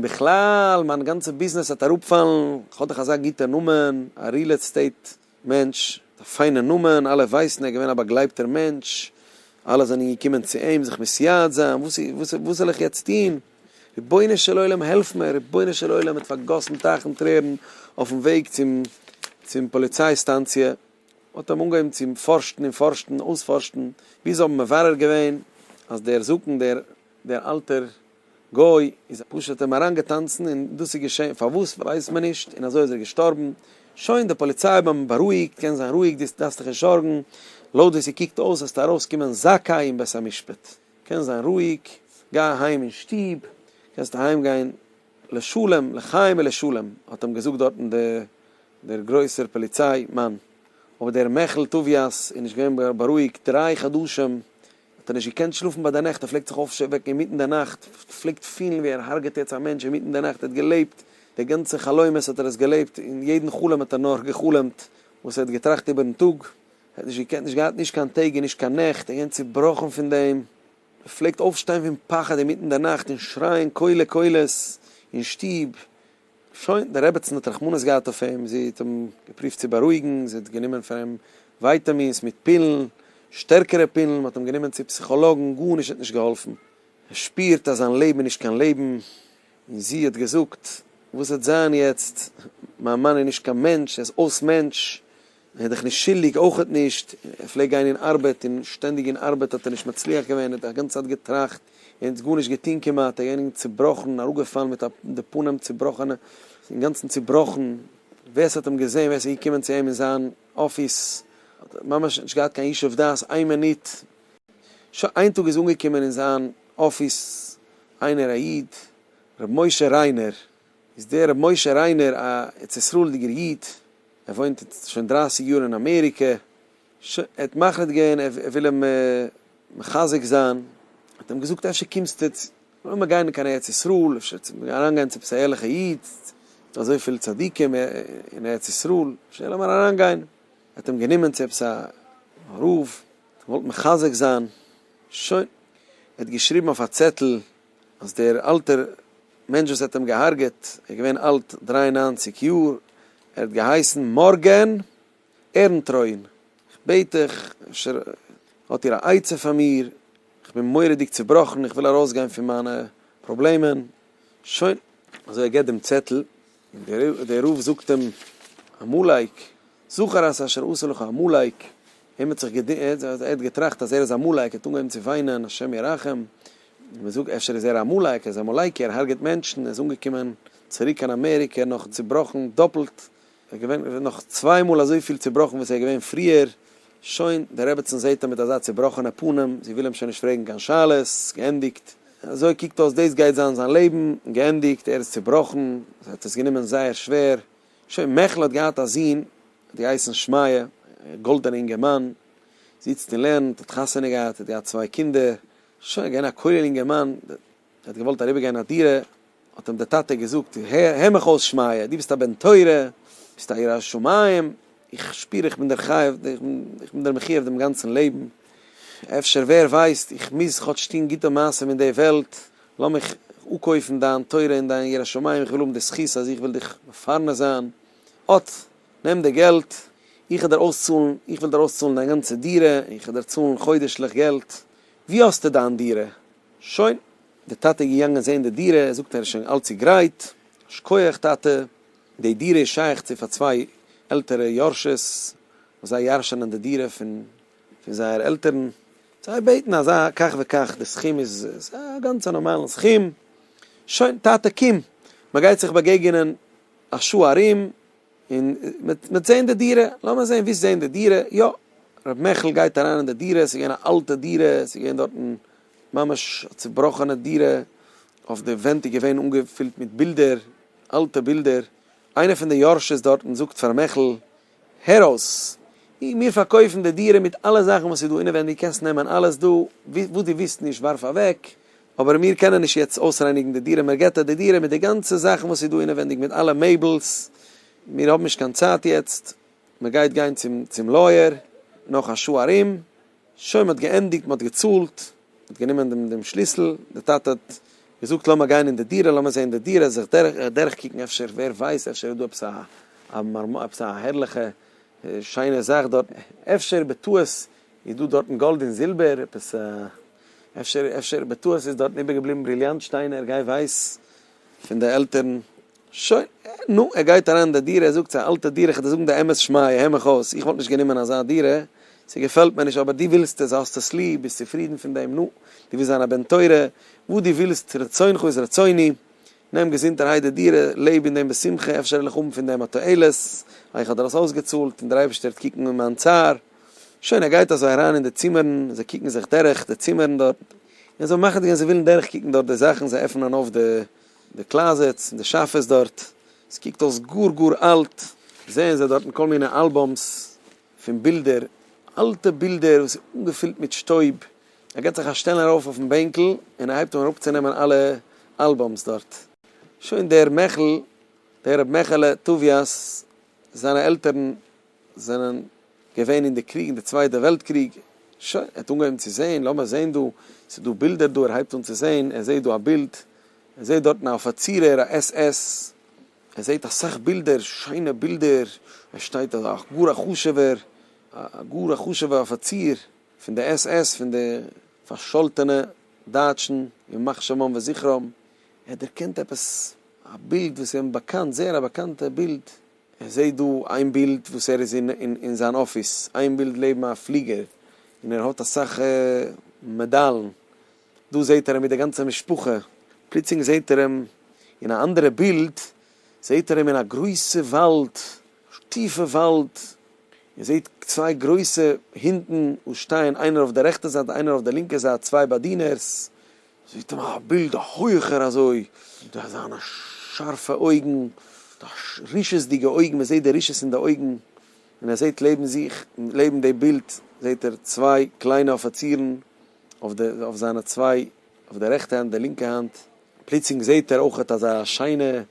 בכלל מיין גאנצע ביזנעס וועט אראפפאלן, איך האב דאך אזא גוטע נאמען, א ריעל עסטעיט מענטש, א פיינע נאמען, אלע ווייסן ער איז געווען א באגלייבטער מענטש, אלע זענען געקומען צו אים זיך מסייעת זיין, וואס וואס זאל איך יעצט טון, רבונו של עולם העלף מיר, רבונו של עולם האט פארגאסן טייכן טרערן אויפן וועג צום צום פאליציי סטאנציע, האט אים אנגעהויבן צו פארשטן און פארשטן אויספארשטן, ביז זיי האבן מברר געווען אז דער זקן דער דער אלטער גוי איז פשוט אים אריין געטאנצן און דאס איז געשען פארוואס ווייסט מען נישט און אזוי איז ער געשטארבן, שוין די פאליציי האבן אים בארואיגט קענסט זיין רואיג דו דארפסט דיך נישט זארגן לויט ווי ס'קוקט אויס וועסטו ארויס קומען זכאי אין בית המשפט קענסט זיין רואיג גיי אהיים אין שטוב קענסט אהיים גיין לשלום לחיים ולשלום האט אים געזאגט דארטן דער גרויסער פאליציי מאן אבער דער מעכל טוביאס איז נישט געווען בארואיגט דריי חדשים. האט ער נישט געקענט שלאפן ביי די נעכט, ער פלעגט זיך אויפשוועקן אינמיטן די נאכט, פלעגט פילן ווי ער הרג'עט יעצט א מענטש אינמיטן די נאכט, ער האט געלעבט די גאנצע חלומות האט ער עס געלעבט, און יעדן חלום האט ער נאר גע'חלומ'ט וואס ער האט געטראכט איבערן טאג, ער האט נישט געקענט, נישט געהאט נישט קיין טעג און נישט קיין נעכט, ער איז געווען צובראכן פון דעם, ער פלעגט אויפשטיין פון פחד אינמיטן די נאכט און שרייען קולי קולות אין שטוב. שוין, די רעבעצן האט רחמנות געהאט אויף אים, זי האט אים געפרובט צו בארואיגן, זי האט גענומען פאר אים ווייטאמינס מיט פילן, שטערקערע פילן, מען האט אים גענומען צו פסיכאלאגן, גארנישט האט נישט געהאלפן, ער שפירט אז זיין לעבן איז נישט קיין לעבן, און זי האט געזאגט, וואס וועט זיין יעצט, מיין מאן איז נישט קיין מענטש, ער איז אויס מענטש. ער איז דיך נישט שולדיג אויכעט נישט, ער פלעגט גיין אין ארבעט און שטענדיג אין ארבעט האט ער נישט מצליח געווען, ער האט א גאנצע צייט געטראכט און האט גארנישט געטון כמעט, ער איז געווען צובראכן, אראפגעפאלן מיט א די פנים צובראכענע, אינגאנצן צובראכן, ווער ס'האט אים געזען, ווער ס'איז געקומען צו אים אין זיין אפיס, האט ער ממש נישט געהאט קיין ישוב דעת איין מינוט, ש ס, איין טאג איז אנגעקומען אין זיין אפיס איינער א איד, ר' משה ריינער, איז דער רבי משה ריינער א ארץ ישראל'דיגער איד, ער וואוינט יעצט שוין דרייסיג יאר אין אמעריקע, ש ע האט מחליט געווען ער וויל אים מחזק זיין, האט אים געזאגט אפשר קומסטו צו לאמיר גיין אין קיין ארץ ישראל, אפשר צו אריינגיין צו עפעס א ערליכע איד, ס'דא אזויפיל צדיקים אין ארץ ישראל, אפשר לאמיר אריינגיין, האט אים גענומען צו עפעס א רב, געוואלט מחזק זיין, שוין, ער האט געשריבן אויף א צעטל. אז דער אלטער מענטש וואס האט אים געהארגעט איז געווען אלט דרײַ און נײַנציק יאר, ער האט געהייסן מארגען ערנטרוין, איך בעט דיך אפשר האט איר א עצה פאר מיר, איך בין מורא'דיג צובראכן, איך וויל ארויסגיין פון מיינע פראבלעמען, שוין. אזוי ער געבט דעם צעטל, און דער רב זאגט אים, עמלק, זכר את אשר עשה לך עמלק, אים האט זיך געדינט, ער האט געטראכט אז ער איז עמלק, ער האט אנגעהויבן צו וויינען, השם ירחם, מען זאגט אפשר איז ער עמלק, ער איז עמלקי, ער הרג'עט מענטשן, ער איז אנגעקומען צוריק קיין אמעריקע נאך צובראכן דאפלט, ער איז געווען נאך צוויי מאל אזויפיל צובראכן וואס ער איז געווען פריער. שוין, די רעבעצן זעהט אים מיט אזא צובראכענע פנים, זי וויל אים שוין נישט פרעגן קיין שאלות, געענדיגט. אזוי קוקט אויס דאס גייט זיין זיין לעבן, געענדיגט, ער איז צובראכן, זי האט עס גענומען זייער שווער. שוין, מעכל האט געהאט א זון, האט געהייסן שמעיה, א גאלדענע אינגערמאן, זיצט און לערנט, האט חתונה געהאט, האט געהאט צוויי קינדער, שוין, געווען א כולל אינגערמאן, ער האט געוואלט אריבערגיין א דירה, האט אים דער טאטע געזאגט, הער מיך אויס שמעיה, דו ביסט א בן תורה, ביסט א ירא שמים, איך שפיר איך בין דער חייב, איך בין דער מחויב דעם גאנצן לעבן, אפשר ווער ווייסט, איך מוז כאטש טון גוטע מעשים אין די וועלט, לאמיך אפקויפן דיין תורה און דיין יראת שמים, איך וויל האבן די זכות אז איך וועל דיך מפרנס זיין, אט, נעם די געלט, איך וועל דיר אויסצאלן, איך וועל דיר אויסצאלן דיין גאנצע דירה, איך וועל דיר צאלן חודש'ליך געלט, ווי האסטו דיין דירה? שוין, דער טאטע איז געגאנגען זען די דירה, ער זאגט ער איז שוין אלץ צו גרייט, שכוח טאטע, די דירה איז שייך צו פאר צוויי עלטערע יורשות, וואס זיי ירשענען די דירה פון פון זייער עלטערן, זיי בעטן אזא כך וכך, די סכום איז איז א גאנץ א נארמאלן סכום, שוין טאטע קום, מען גייט זיך באגעגענען א שעה ארום. און מ'וועט זעהן די דירה, לאמיר זעהן ווי ס'זעהן די דירה, יא, ר' מעכל גייט אריין אין די דירה, ס'איז געווען א אלטע דירה, ס'איז געווען דארטן ממש א צובראכענע דירה, אויף די ווענט איז געווען אנגעפילט מיט בילדער, אלטע בילדער, איינער פון די יורש'ס דארטן זאגט פאר ר' מעכל, הער אויס, מיר פארקויפן די דירה מיט אלע זאכן וואס איז דא אינעווייניג, קענסט נעמען אלעס דא, וואס דו ווילסט נישט ווארף אוועק, אבער מיר קענען נישט יעצט אויסרייניגן די דירה, מיר געטא די דירה מיט די גאנצע זאכן וואס איז דא אינעווענדיג מיט אלע מעבלס, מיר האבן נישט קיין צייט יעצט, מען גייט גיין צום צום לויער נאך א שעה ארום, שוין מען האט געענדיגט, מען האט געצאלט, מען האט גענומען דעם דעם שליסל, די טאטע האט געזאגט לאמיר גיין אין די דירה, לאמיר זען די דירה, זיך דורך דורך קוקן אפשר ווער ווייסט אפשר איז דא עפעס א א מארמאר עפעס א הערליכע שיינע זאך דארט, אפשר בטעות איז דא דארטן גאלד און זילבער, עפעס א. אפשר אפשר בטעות איז דארטן איבערגעבליבן בריליאנט שטיינער, גיי ווייס, פון די עלטערן. שוין, נו, ער גייט אריין אין די דירה, ער זאגט ס'איז א אלטע דירה, כ'וועל דיר זאגן די אמת שמעיה, הער מיך אויס, איך וואלט נישט גענומען אזא דירה, ס'געפעלט מיר נישט, אבער דו ווילסט עס, האסט עס ליב, ביסט צופרידן פון דעם, נו, דו ווילסט זיין א בן תורה, וואס דו ווילסט, רצונך איז רצוני, נעם געזונטערהייט די דירה, לעב אין דעם בשמחה, אפשר וועל איך האבן פון דעם א תועלת, אייך האט ער עס אויסגעצאלט, און דער אייבערשטער וועט קוקן אין מיין צער. שוין ער גייט אזוי אריין אין די צימערן, זיי קוקן זיך דורך די צימערן דארט, און זיי מאכן די גענ, זיי ווילן דורך קוקן דארט די זאכן, זיי עפענען אויף די די קלאזעטס און די שאפעס דארט, עס קוקט אויס גאר גאר אלט, זעען זיי דארטן כל מיני אלבום'ס פון בילדער, אלטע בילדער וואס איז אנגעפילט מיט שטויב, ער געט זיך א שטעלן ארויף אויפן בענקל און ער הייבט אן אראפצונעמען אלע אלבום'ס דארט, שוין דער מעכל, דער ר' מעכעלע טוביאס, זיינע עלטערן זענען געווען אין די קריג אין די צווייטע וועלט קריג, שוין ער האט אנגעהויבן צו זעהן, לאמיר זעהן דא, ס'איז דא בילדער דא, ער הייבט אן צו זעהן, ער זעהט דא א בילד, ער זעהט דארטן א אפיצירער א עס עס, ער זעהט אסאך בילדער, שיינע בילדער, ער שטייט א גאר א חשובער, א גאר א חשובע אפיציר פון די עס עס, פון די פארשאלטענע דייטשן, ימח שמם וזכרם, ער דערקענט עפעס א בילד וואס איז אים באקאנט, זייער א באקאנטע בילד. איך זע דא איין בילד וואס ער איז אין זיין אפיס, איין בילד לעבן א פליגער, און ער האט אסאך מעדאלן, דא זעט ער אים מיט די גאנצע משפחה, פלוצלינג זעט ער אים אין א אנדערע בילד, זעט ער אים אין א גרויסע וואלד, טיפע וואלד, און זעט צוויי גרויסע הינטן וואס שטייען איינער אויף די רעכטע זייט איינער אויף די לינקע זייט, צוויי באדינערס, זעט אים א בילד א הויעכער אזוי, מיט אזאנע שארפע אויגן, מיט א רשעות'דיגע אויגן, מען זעט די רשעות אין די אויגן, און ער זעט לעבן זיך, לעבן די בילד זעט ער צוויי קליינע אפיצירן, אויף די, אויף זיינע צוויי, אויף די רעכטע האנט, די לינקע האנט, פלוצלינג זעט ער אויכעט אזא שיינע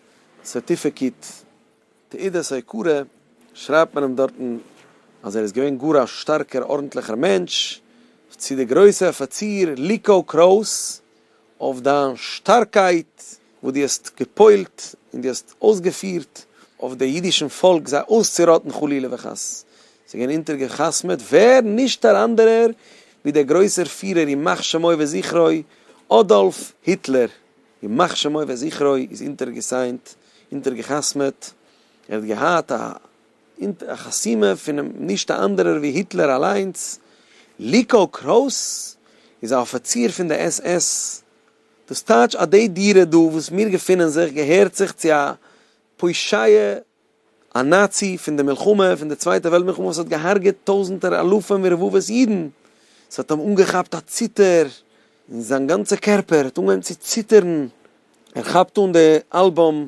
סערטיפעקיט תעודת הוקרה שרייבט מען אים דארטן אז ער איז געווען גאר א שטארקער ארנטליכער מענטש, צו די גרויסע אפיציר ליקאו קרויס אויף דיין שטארקייט וואס דו האסט געפועלט און דו האסט אויסגעפירט אויף די אידישן פאלק זיי אויסצוראטן חלילה וחס, ס'איז געווען אונטערגעחתמעט ווער נישט אן אנדערער ווי דער גרויסער פירער ימח שמו וזכרו אדאלף היטלער. ימח שמו וזכרו איז אינטערגעסיינט, אינטערגעחתמעט, ער האט געהאט א חתימה פונעם נישט א אנדערער ווי היטלער אליינס, ליקא קרויס איז א אפיציר פון די עס עס, דאס טייטש אז די דירה דא וואס מיר געפונען זיך געהערט זיך צו א פושעי א נאצי פון די מלחמה פון די צווייטע וועלט מלחמה וואס האט געהארגעט טויזענטער אלפים ורבבות אידן, עס האט אים אנגעכאפט א ציטער און זיין גאנצע קערפער האט אנגעהויבן צו ציטערן, ער כאפט אן די אלבום,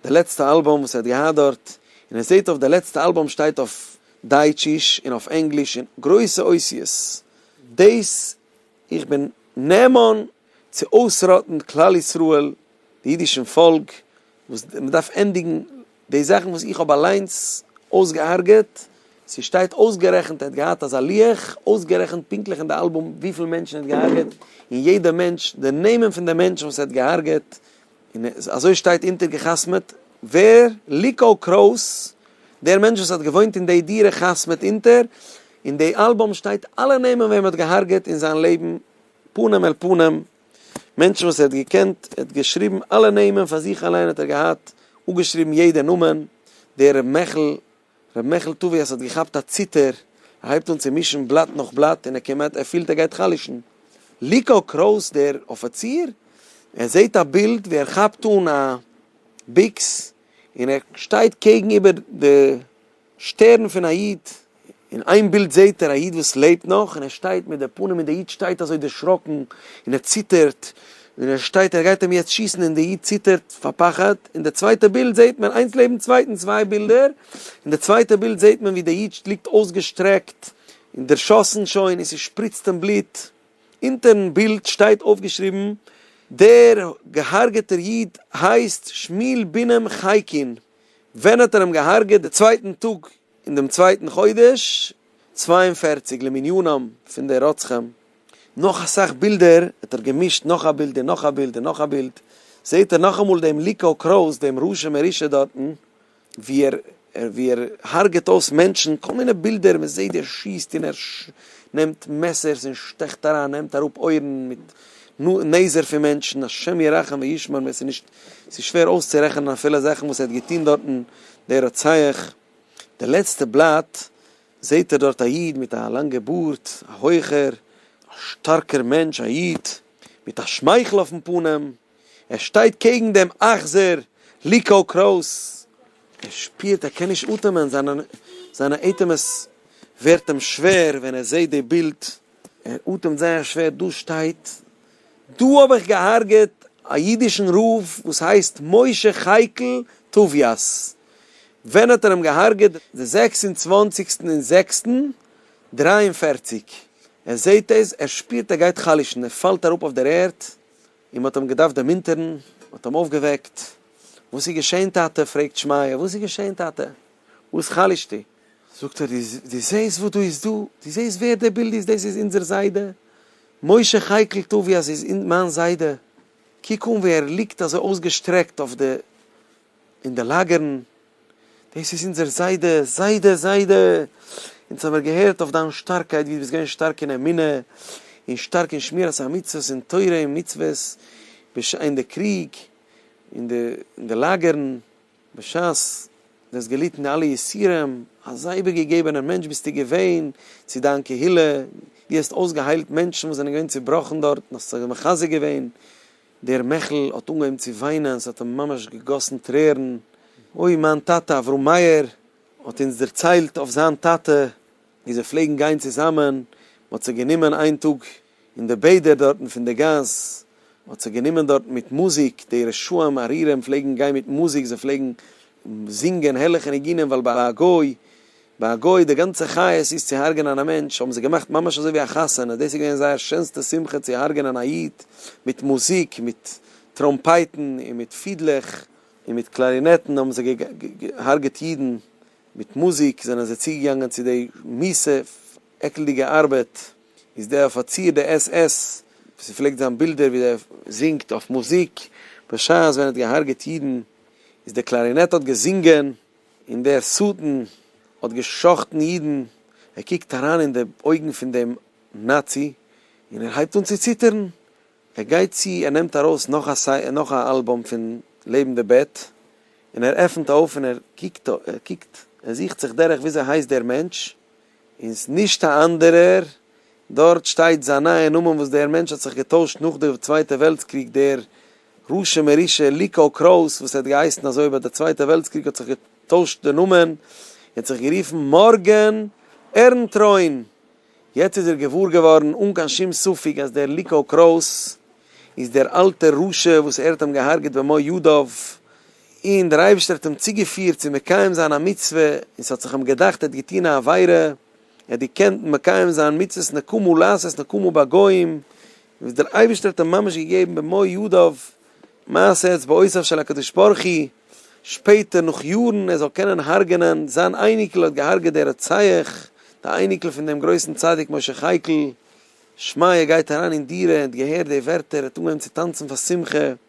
די לעצטע אלבום וואס ער האט געהאט דארט, און ער זעט אויף די לעצטע אלבום שטייט אויף דייטשיש און אויף ענגליש אין גרויסע אותיות דאס. איך בין נאמן צו אויסראטן כלל ישראל, די אידישן פאלק, וואס מען דארף ענדיגן די זאכן וואס איך האב אליינס אויסגעהארגעט, ס'שטייט אויסגערעכנט ער האט געהאט אזא לוח, אויסגערעכנט פונקטליך אין די אלבום וויפיל מענטשן ער האט געהארגעט, און יעדע מענטש, די נעמען פון די מענטשן וואס ער האט געהארגעט, און אזוי שטייט אונטערגעחתמעט, ווער? ליקאו קרויס, דער מענטש וואס האט געוואוינט אין די דירה חתמעט אונטער, אין די אלבום שטייט אלע נעמען וועם ער האט געהארגעט אין זיין לעבן פנים אל פנים, מענטשן וואס ער האט געקענט, ער האט געשריבן אלע נעמען פאר זיך אליין האט ער געהאט אפגעשריבן יעדע נאמען, דער ר' מעכל רבי מעכל טובי' אז ס'האט געכאפט א ציטער, ער הייבט אן צו מישן בלאט נאך בלאט און ער כמעט ער פילט ער גייט חלש'ן. ליקא קרויס דער אפיציר, ער זעהט א בילד ווי ער כאפט אן א ביקס און ער שטייט קעגן איבער די שטערן פון א איד, אין איין בילד זעהט ער א איד וואס לעבט נאך און ער שטייט מיט די פנים און די איד שטייט אזוי דערשראקן און ער ציטערט ווען ער שטייט ער גייט אים יעצט שיסן און די איד ציטערט פאר פחד, אין די צווייטע בילד זעהט מען איינס לעבן צווייטן צוויי בילדער, אין די צווייטע בילד זעהט מען ווי די איד ליגט אויסגעשטרעקט און דערשאסן שוין און ס'שפריצט אים בלוט, אונטערן בילד שטייט אויפגעשריבן דער געהארגעטער איד הייסט שמואל בינעם חייקין, ווען האט ער אים געהארגעט די צווייטן טאג אין דעם צווייטן חודש צוויי און פֿערציק למניינם פון די רוצחים, נאך אסאך בילדער האט ער געמישט נאך א בילד און נאך א בילד און נאך א בילד, זעהט ער נאכאמאל דעם ליקאו קראוס דעם רשע מרושע דארטן ווי ער ווי ער הרג'ט אויס מענטשן, כל מיני בילדער מען זעהט ווי ער שיסט און ער נעמט מעסערס און שטעכט אריין נעמט אראפ אויערן מיט נעזער פון מענטשן, השם ירחם וישמרם עס איז נישט ס'איז שווער אויסצורעכענען אפילו זאכן וואס ער האט געטוהן דארטן דער רוצח. די לעצטע בלאט זעהט ער דארט א איד מיט א לאנגע בארד, א הויכער, א שטארקער מענטש, א איד מיט א שמייכל אויפן פנים, ער שטייט קעגן דעם אכזר ליקאו קראוס, ער שפירט ער קען נישט אטעמען, זיינע אטעמעס ווערט אים שווער ווען ער זעהט די בילד, ער אטעמט זייער שווער, דא שטייט, דא האב איך געהארגעט א אידישן רב וואס הייסט משה חייקל טוביאס, ווען האט ער אים געהארגעט? די זעקס און צוואנציגסטן אין זעקסטן דריי און פֿערציק, ער זעהט דאס, ער שפירט ער גייט חלש'ן, ער פאלט אראפ אויף דער ערד, און מ'האט אים געדארפט דערמונטערן, מ'האט אים אויפגעוועקט, וואס איז געשעהן טאטע? פרעגט שמעיה, וואס איז געשעהן טאטע? וואס חלש'טו? זאגט ער, דו זעהסט וואס דא איז דא? דו זעהסט ווער דער בילד איז? דאס איז אונזער זיידע משה חייקל טובי', אז איז מיין זיידע, קוק אן ווי ער ליגט אזוי אויסגעשטרעקט אויף די אין די לאגערן, דאס איז אונזער זיידע, זיידע, זיידע, אונז האמיר געהערט אויף דיין שטארקייט ווי דו ביסט געווען שטארק אין אמונה, און שטארק אין שמירת המצוות און תורה און מצוות, בש אין די קריג, אין די אין די לאגערן, בשעת דו האסט געליטן די אלע יסורים, אזא איבערגעגעבענער מענטש ביסטו געווען צו דיין קהילה, דו האסט אויסגעהיילט מענטשן וואס זענען געווען צעבראכן דארט, און האסט זיי מחזק געווען. דער מעכל האט אנגעהויבן צו וויינען, ס'האט אים ממש געגאסן טרערן, אוי מיין טאטע אברהם מאיר האט אונז דערציילט אויף זיין טאטע ווי זיי פלעגן גיין צוזאמען, מ'האט זיך גענומען איין טאג אין די בעדער דארטן פון די גאס, מ'האט זיך גענומען דארטן מיט מוזיק, די רשעים ארורים פלעגן גיין מיט מוזיק, זיי פלעגן זינגען הערליכע ניגונים ווייל ביי א גוי ביי א גוי די גאנצע חיות איז צו הרג'נען א מענטש האבן זיי געמאכט ממש אזוי ווי א חתונה, דאס איז געווען זייער שענסטע שמחה צו הרג'נען א איד, מיט מוזיק, מיט טראמפייטן און מיט פידלעך און מיט קלארינעטן האבן זיי געהארגעט אידן, מיט מוזיק זענען זיי צוגעגאנגען צו די מיסע עקלדיגע ארבעט, איז דער אפיציר די עס עס וואס איר פלעגט זען בילדער ווי דער זינגט אויף מוזיק בשעת ווען ער האט געהארגעט אידן, איז די קלארינעט האט געזינגען. און דער שטן האט גע'שחט'ן אידן, ער קוקט אריין אין די אויגן פון דעם נאצי, און ער הייבט אן צו ציטערן, ער גייט צו, ער נעמט ארויס נאך א אלבום פון לעבן די בעט, און ער עפנט אויף און ער קוקט, ער זוכט זיך דורך וויאזוי הייסט דער מענטש, און ס'איז נישט א אנדערער, דארט שטייט זיין נייע נאמען וואס דער מענטש האט זיך געטוישט נאך די צווייטע וועלטס קריג, דער רשע מרושע ליקאו קראוס וואס האט געהייסן אזוי ביי די צווייטע וועלטס קריג האט זיך געטוישט די נאמען און האט זיך גערופן מארגען ערנטרוין, יעצט איז ער געוואר געווארן אן קיין שום ספק אז דער ליקאו קראוס איז דער אלטער רשע וואס ער האט אים געהארגעט במו ידיו. און דער אייבערשטער האט אים צוגעפירט צו מקיים זיין א מצוה, און ס'האט זיך אים געדאכט ער האט געטון א עבירה, ער האט געקענט מקיים זיין מצוות נקמה לעשות נקמה בגוים, וואס דער אייבערשטער האט אים ממש געגעבן במו ידיו מעשה אצבעותיו של הקדוש ברוך הוא, שפעטער נאך יארן, ער זאל קענען הרג'נען זיין אייניקל האט געהארגעט דער רוצח, די אייניקל פון דעם גרויסן צדיק משה חייקל, שמעיה גייט אריין אין דירה, ער האט געהערט די ווערטער, ער האט אנגעהויבן צו טאנצן פאר שמחה.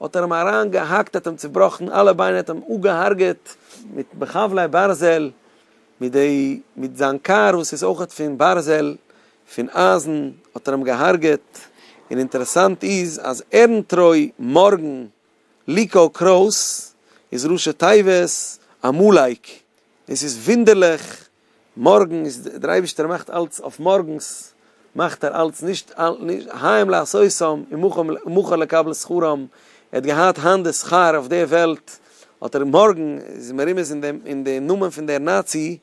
האט ער אים אריין געהאקט האט אים צובראכן אלע ביינער האט אים אפגעהארגעט מיט בחבלי ברזל מיט די מיט זיין קאר וואס איז אויכעט פון ברזל פון אייזן האט ער אים געהארגעט און אינטערעסאנט איז אז ערענטרוי מארגן ליקאו קרויס איז ראשי תיבות עמלק און ס'איז וואונדערליך מארגן איז דער אייבערשטער מאכט אלץ אויף מארגנס מאכט ער אלץ נישט היים לעשותן ומוכן לקבל שכרן ער האט געהאט היינט די שכר אויף די וועלט האט ער מארגן איז מרומז אין די נאמען פון דער נאצי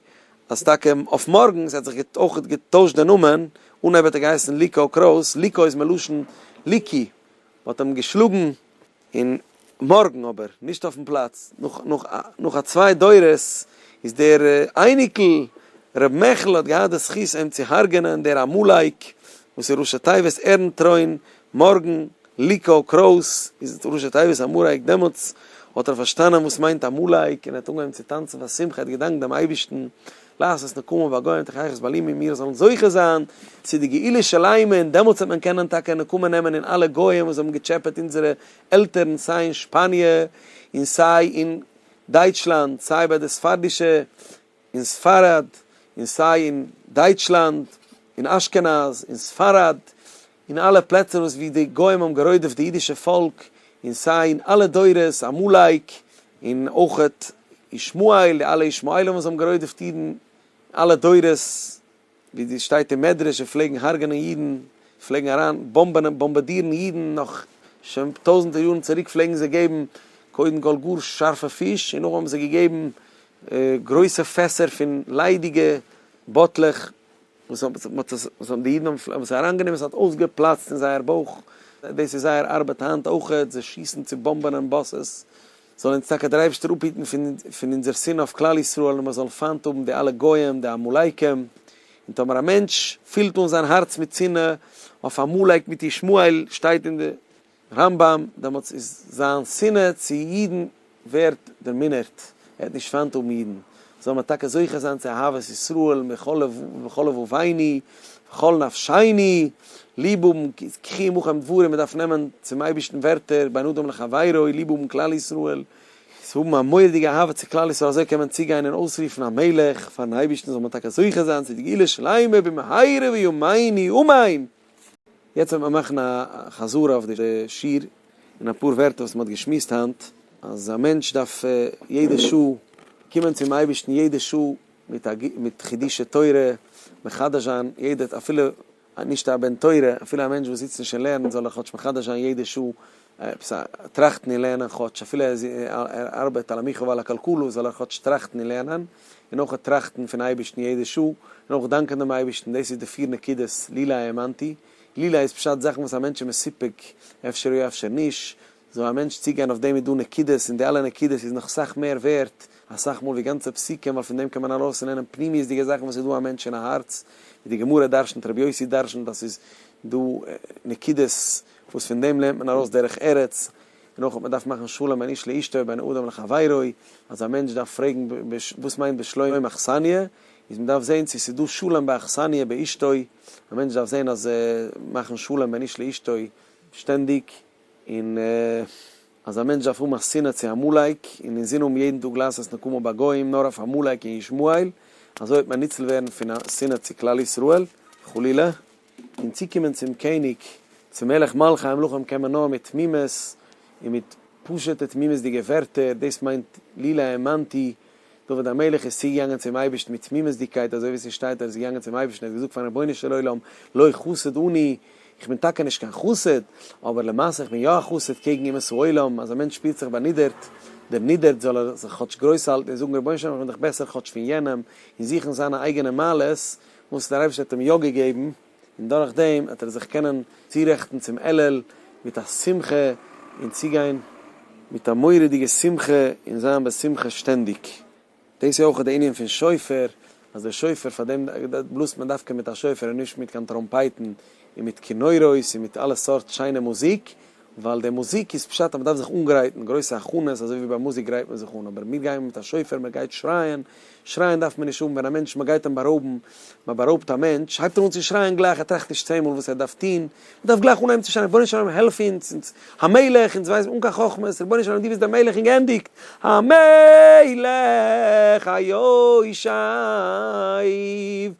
אז טאקע אויף מארגנס ער האט זיך אויך געטוישט די נאמען אנהייב האט ער געהייסן ליקא קרויס ליקא איז מלשון ליקי מ'האט אים געשלאגן. און מארגן אבער, נישט אויפן פלאץ, נאך א צוויי דורות, איז דער אייניקל ר' מעכל האט געהאט די זכות אים צו הרג'ענען, דער עמלק, וואס איז ראשי תיבות ערנטרוין, מארגן, ליקא, קרויס, איז ראשי תיבות עמלק, דעמאלטס האט ער פארשטאנען וואס מיינט עמלק, און ער האט אנגעהויבן צו טאנצן פאר שמחה, ער האט געדאנקט דעם אייבערשטן, לעשות נקמה בגוים תחי ארץ בלי מי מיר זאלן זוכה זיין צו די גאולה שלימה און דעמאלטס וועט מען קענען טאקע נקמה נעמען אין אלע גוים וואס האבן געטשעפעט אונזערע עלטערן סיי אין שפאניע און סיי אין דייטשלאנד סיי ביי די ספרדישע אין ספרד און סיי אין דייטשלאנד און אשכנז און ספרד אין אלע פלעצער וואס ווי די גוים האבן גערוידעפט די אידישע פאלק אין סיי אין אלע דורות עמלק אין אויכעט ישמעאל די אלע ישמעאלים וואס האבן גערוידעפט אידן אלע דורות ווי די שטייט אין מדרש און פלעגן הרג'נען אידן פלעגן אריין באמבענען באמבעדירן אידן נאך שוין טויזענטער יארן צוריק פלעגן זיי געבן קודם כל גאר שארפע פיש און נאכדעם האבן זיי געגעבן גרויסע פעסער פון ליידיגע באטלעך. וואס האבן זיך מיט עס, וואס האבן די אידן האבן פלעין וואס אריינגענומען, עס האט אויסגעפלאצט אין זייער בויך, דאס איז זייער ארבעט היינט אויכעט, זיי שיסן צו באמבען און באסעס, זאל אונז טאקע דער אייבערשטער אפהיטן פון פון אונזער שנאה אויף כלל ישראל און מען זאל פיינט האבן די אלע גויים די עמלקים, און טאמער א מענטש פילט אן זיין הארץ מיט שנאה אויף עמלק מיט ישמעאל שטייט אין די רמב ם, דעמאלטס איז זיין שנאה צו אידן ווערט דערמינערט, ער וועט נישט פיינט האבן אידן, זאל מען טאקע זוכה זיין צו אהבת ישראל מכל לבביני וכל נפשיני, ליב האבן קחי עמכם דברים, מען דארף נעמען צום אייבערשטן ווערטער בין אדם לחבירו, ליב האבן כלל ישראל, צו האבן א מורא'דיגע אהבה צו כלל ישראל, אזוי קען מען צוגיין און אויסרופן א מלך פארן אייבערשטן, זאל מען טאקע זוכה זיין צו די גאולה שלימה במהרה בימינו אמן. יעצט וועט מען מאכן א חזרה אויף די שיעור, און אפאר ווערטער וואס מען האט געשמועסט היינט, אז א מענטש דארף יעדע שעה קומען צום אייבערשטן, יעדע שעה מיט חידושי תורה, מחדש זיין יעדע אפילו נישט א בן תורה, אפילו א מענטש וואס זיצט נישט און לערנט זאל ער כאטש מחדש זיין יעדע שעה, עפעס א טראכטן און לערנען כאטש, אפילו ער ארבעט על המיחו ועל הקלקלו, זאל ער כאטש טראכטן און לערנען, און אויך טראכטן פון אייבערשטן יעדע שעה, און אויך דאנקען דעם אייבערשטן, דאס איז די פיר נקודות, לילא האמנתי, לילא איז פשט זאכן וואס א מענטש איז מסופק, אפשר יא אפשר נישט, זאל א מענטש צוגיין אויף דעם איז דא נקודות, און די אלע נקודות איז נאך סאך מער ווערט, אסאך מאל ווי גאנצע פסוקים, ווייל פון דעם קען מען ארויס לערנען פנימיות'דיגע זאכן וואס איז דא א מענטש אין א הארץ, ווי די גמרא דרשנ'ט, רבי יוסי דרשנ'ט אז ס'איז דא נקודות, וואס פון דעם לערנט מען ארויס דרך ארץ, און אויך אז מען דארף מאכן שלום בין איש לאשתו ובין אדם לחבירו, אז א מענטש דארף פרעגן וואס מיינט בשלום אכסניא, איז מען דארף זען צו ס'איז דא שלום באכסניא באשתו, א מענטש דארף זען אז מאכן שלום בין איש לאשתו שטענדיג, און אז א מענטש דארף האבן א שנאה צו עמלק, און אינזין האבן יעדן טאג לעשות נקמה בגוים נאר אויף עמלק און ישמעאל, אזוי וועט מען ניצל ווערן פון א שנאה צו כלל ישראל, חלילה. און צוקומען צום קעניג, צום מלך מלכי המלכים קען מען נאר מיט תמימות און מיט פשוט'ע תמימות'דיגע ווערטער, דאס מיינט לילא האמנתי, דוד המלך איז צוגעגאנגען צום אייבערשטן מיט תמימות'דיגקייט, אזוי ווי עס איז שטייט, ער איז געגאנגען צום אייבערשטן, ער האט געזאגט פארן רבונו של עולם, לא חסוד אני, איך בין טאקע נישט קיין חסיד, אבער למעשה איך בין יא א חסיד קעגן אומות העולם, אז א מענטש שפירט זיך באנידערט, דערנידערט, זאל ער זיך כאטש גרויס האלטן און זאגן, רבונו של עולם איך בין דאך בעסער כאטש פון יענעם, און זוכן זיינע אייגענע מעלות, וואס דער אייבערשטער האט אים יא געגעבן, און דורך דעם וועט ער זיך קענען צורעכטן צום אלול מיט א שמחה און צוגיין מיט א מורא'דיגע שמחה און זיין בשמחה שטענדיג. דאס איז אויך די ענין פון שופר, אז דער שופר פאר דעם בלאזט מען דווקא מיט א שופר און נישט מיט קיין טראמפייטן און מיט כינורות און מיט אלע סארט שיינע מוזיק, ווייל די מוזיק איז פשט אז מען דארף זיך אנגרייטן, גרויסע הכנות, אזוי ווי ביי מוזיק גרייט מען זיך אן, אבער מיר גייען מיט א שופר, מען גייט שרייען, שרייען דארף מען נישט האבן, ווען א מענטש מען גייט אים בארויבן, מען בארויבט א מענטש, הייבט ער אן צו שרייען גלייך, ער טראכט נישט צען מאל וואס ער דארף טון, ער דארף גלייך אנהייבן צו שרייען רבונו של עולם העלף אונז, אונז, המלך, אונז ווייסן, אן קיין חכמות, רבונו של עולם דו ביסט דער מלך און גענדיגט, המלך היושב.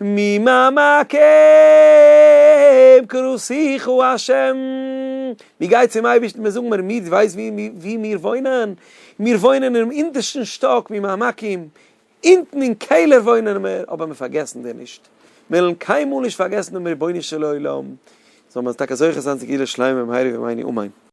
ממעמקים כרוסיך הוא השם, מען גייט צום אייבערשטן מען זאגט מיר מיר דו ווייסט וואו מיר וואוינען? מיר וואוינען אינעם אונטערשטן שטאק ממעמקים, אונטן אין קעלער וואוינען מיר, אבער מיר פארגעסן דיר נישט, מיר וועלן קיינמאל נישט פארגעסן דעם רבונו של עולם, זאל מען טאקע זוכה זיין צו גאולה שלימה במהרה בימינו אמן.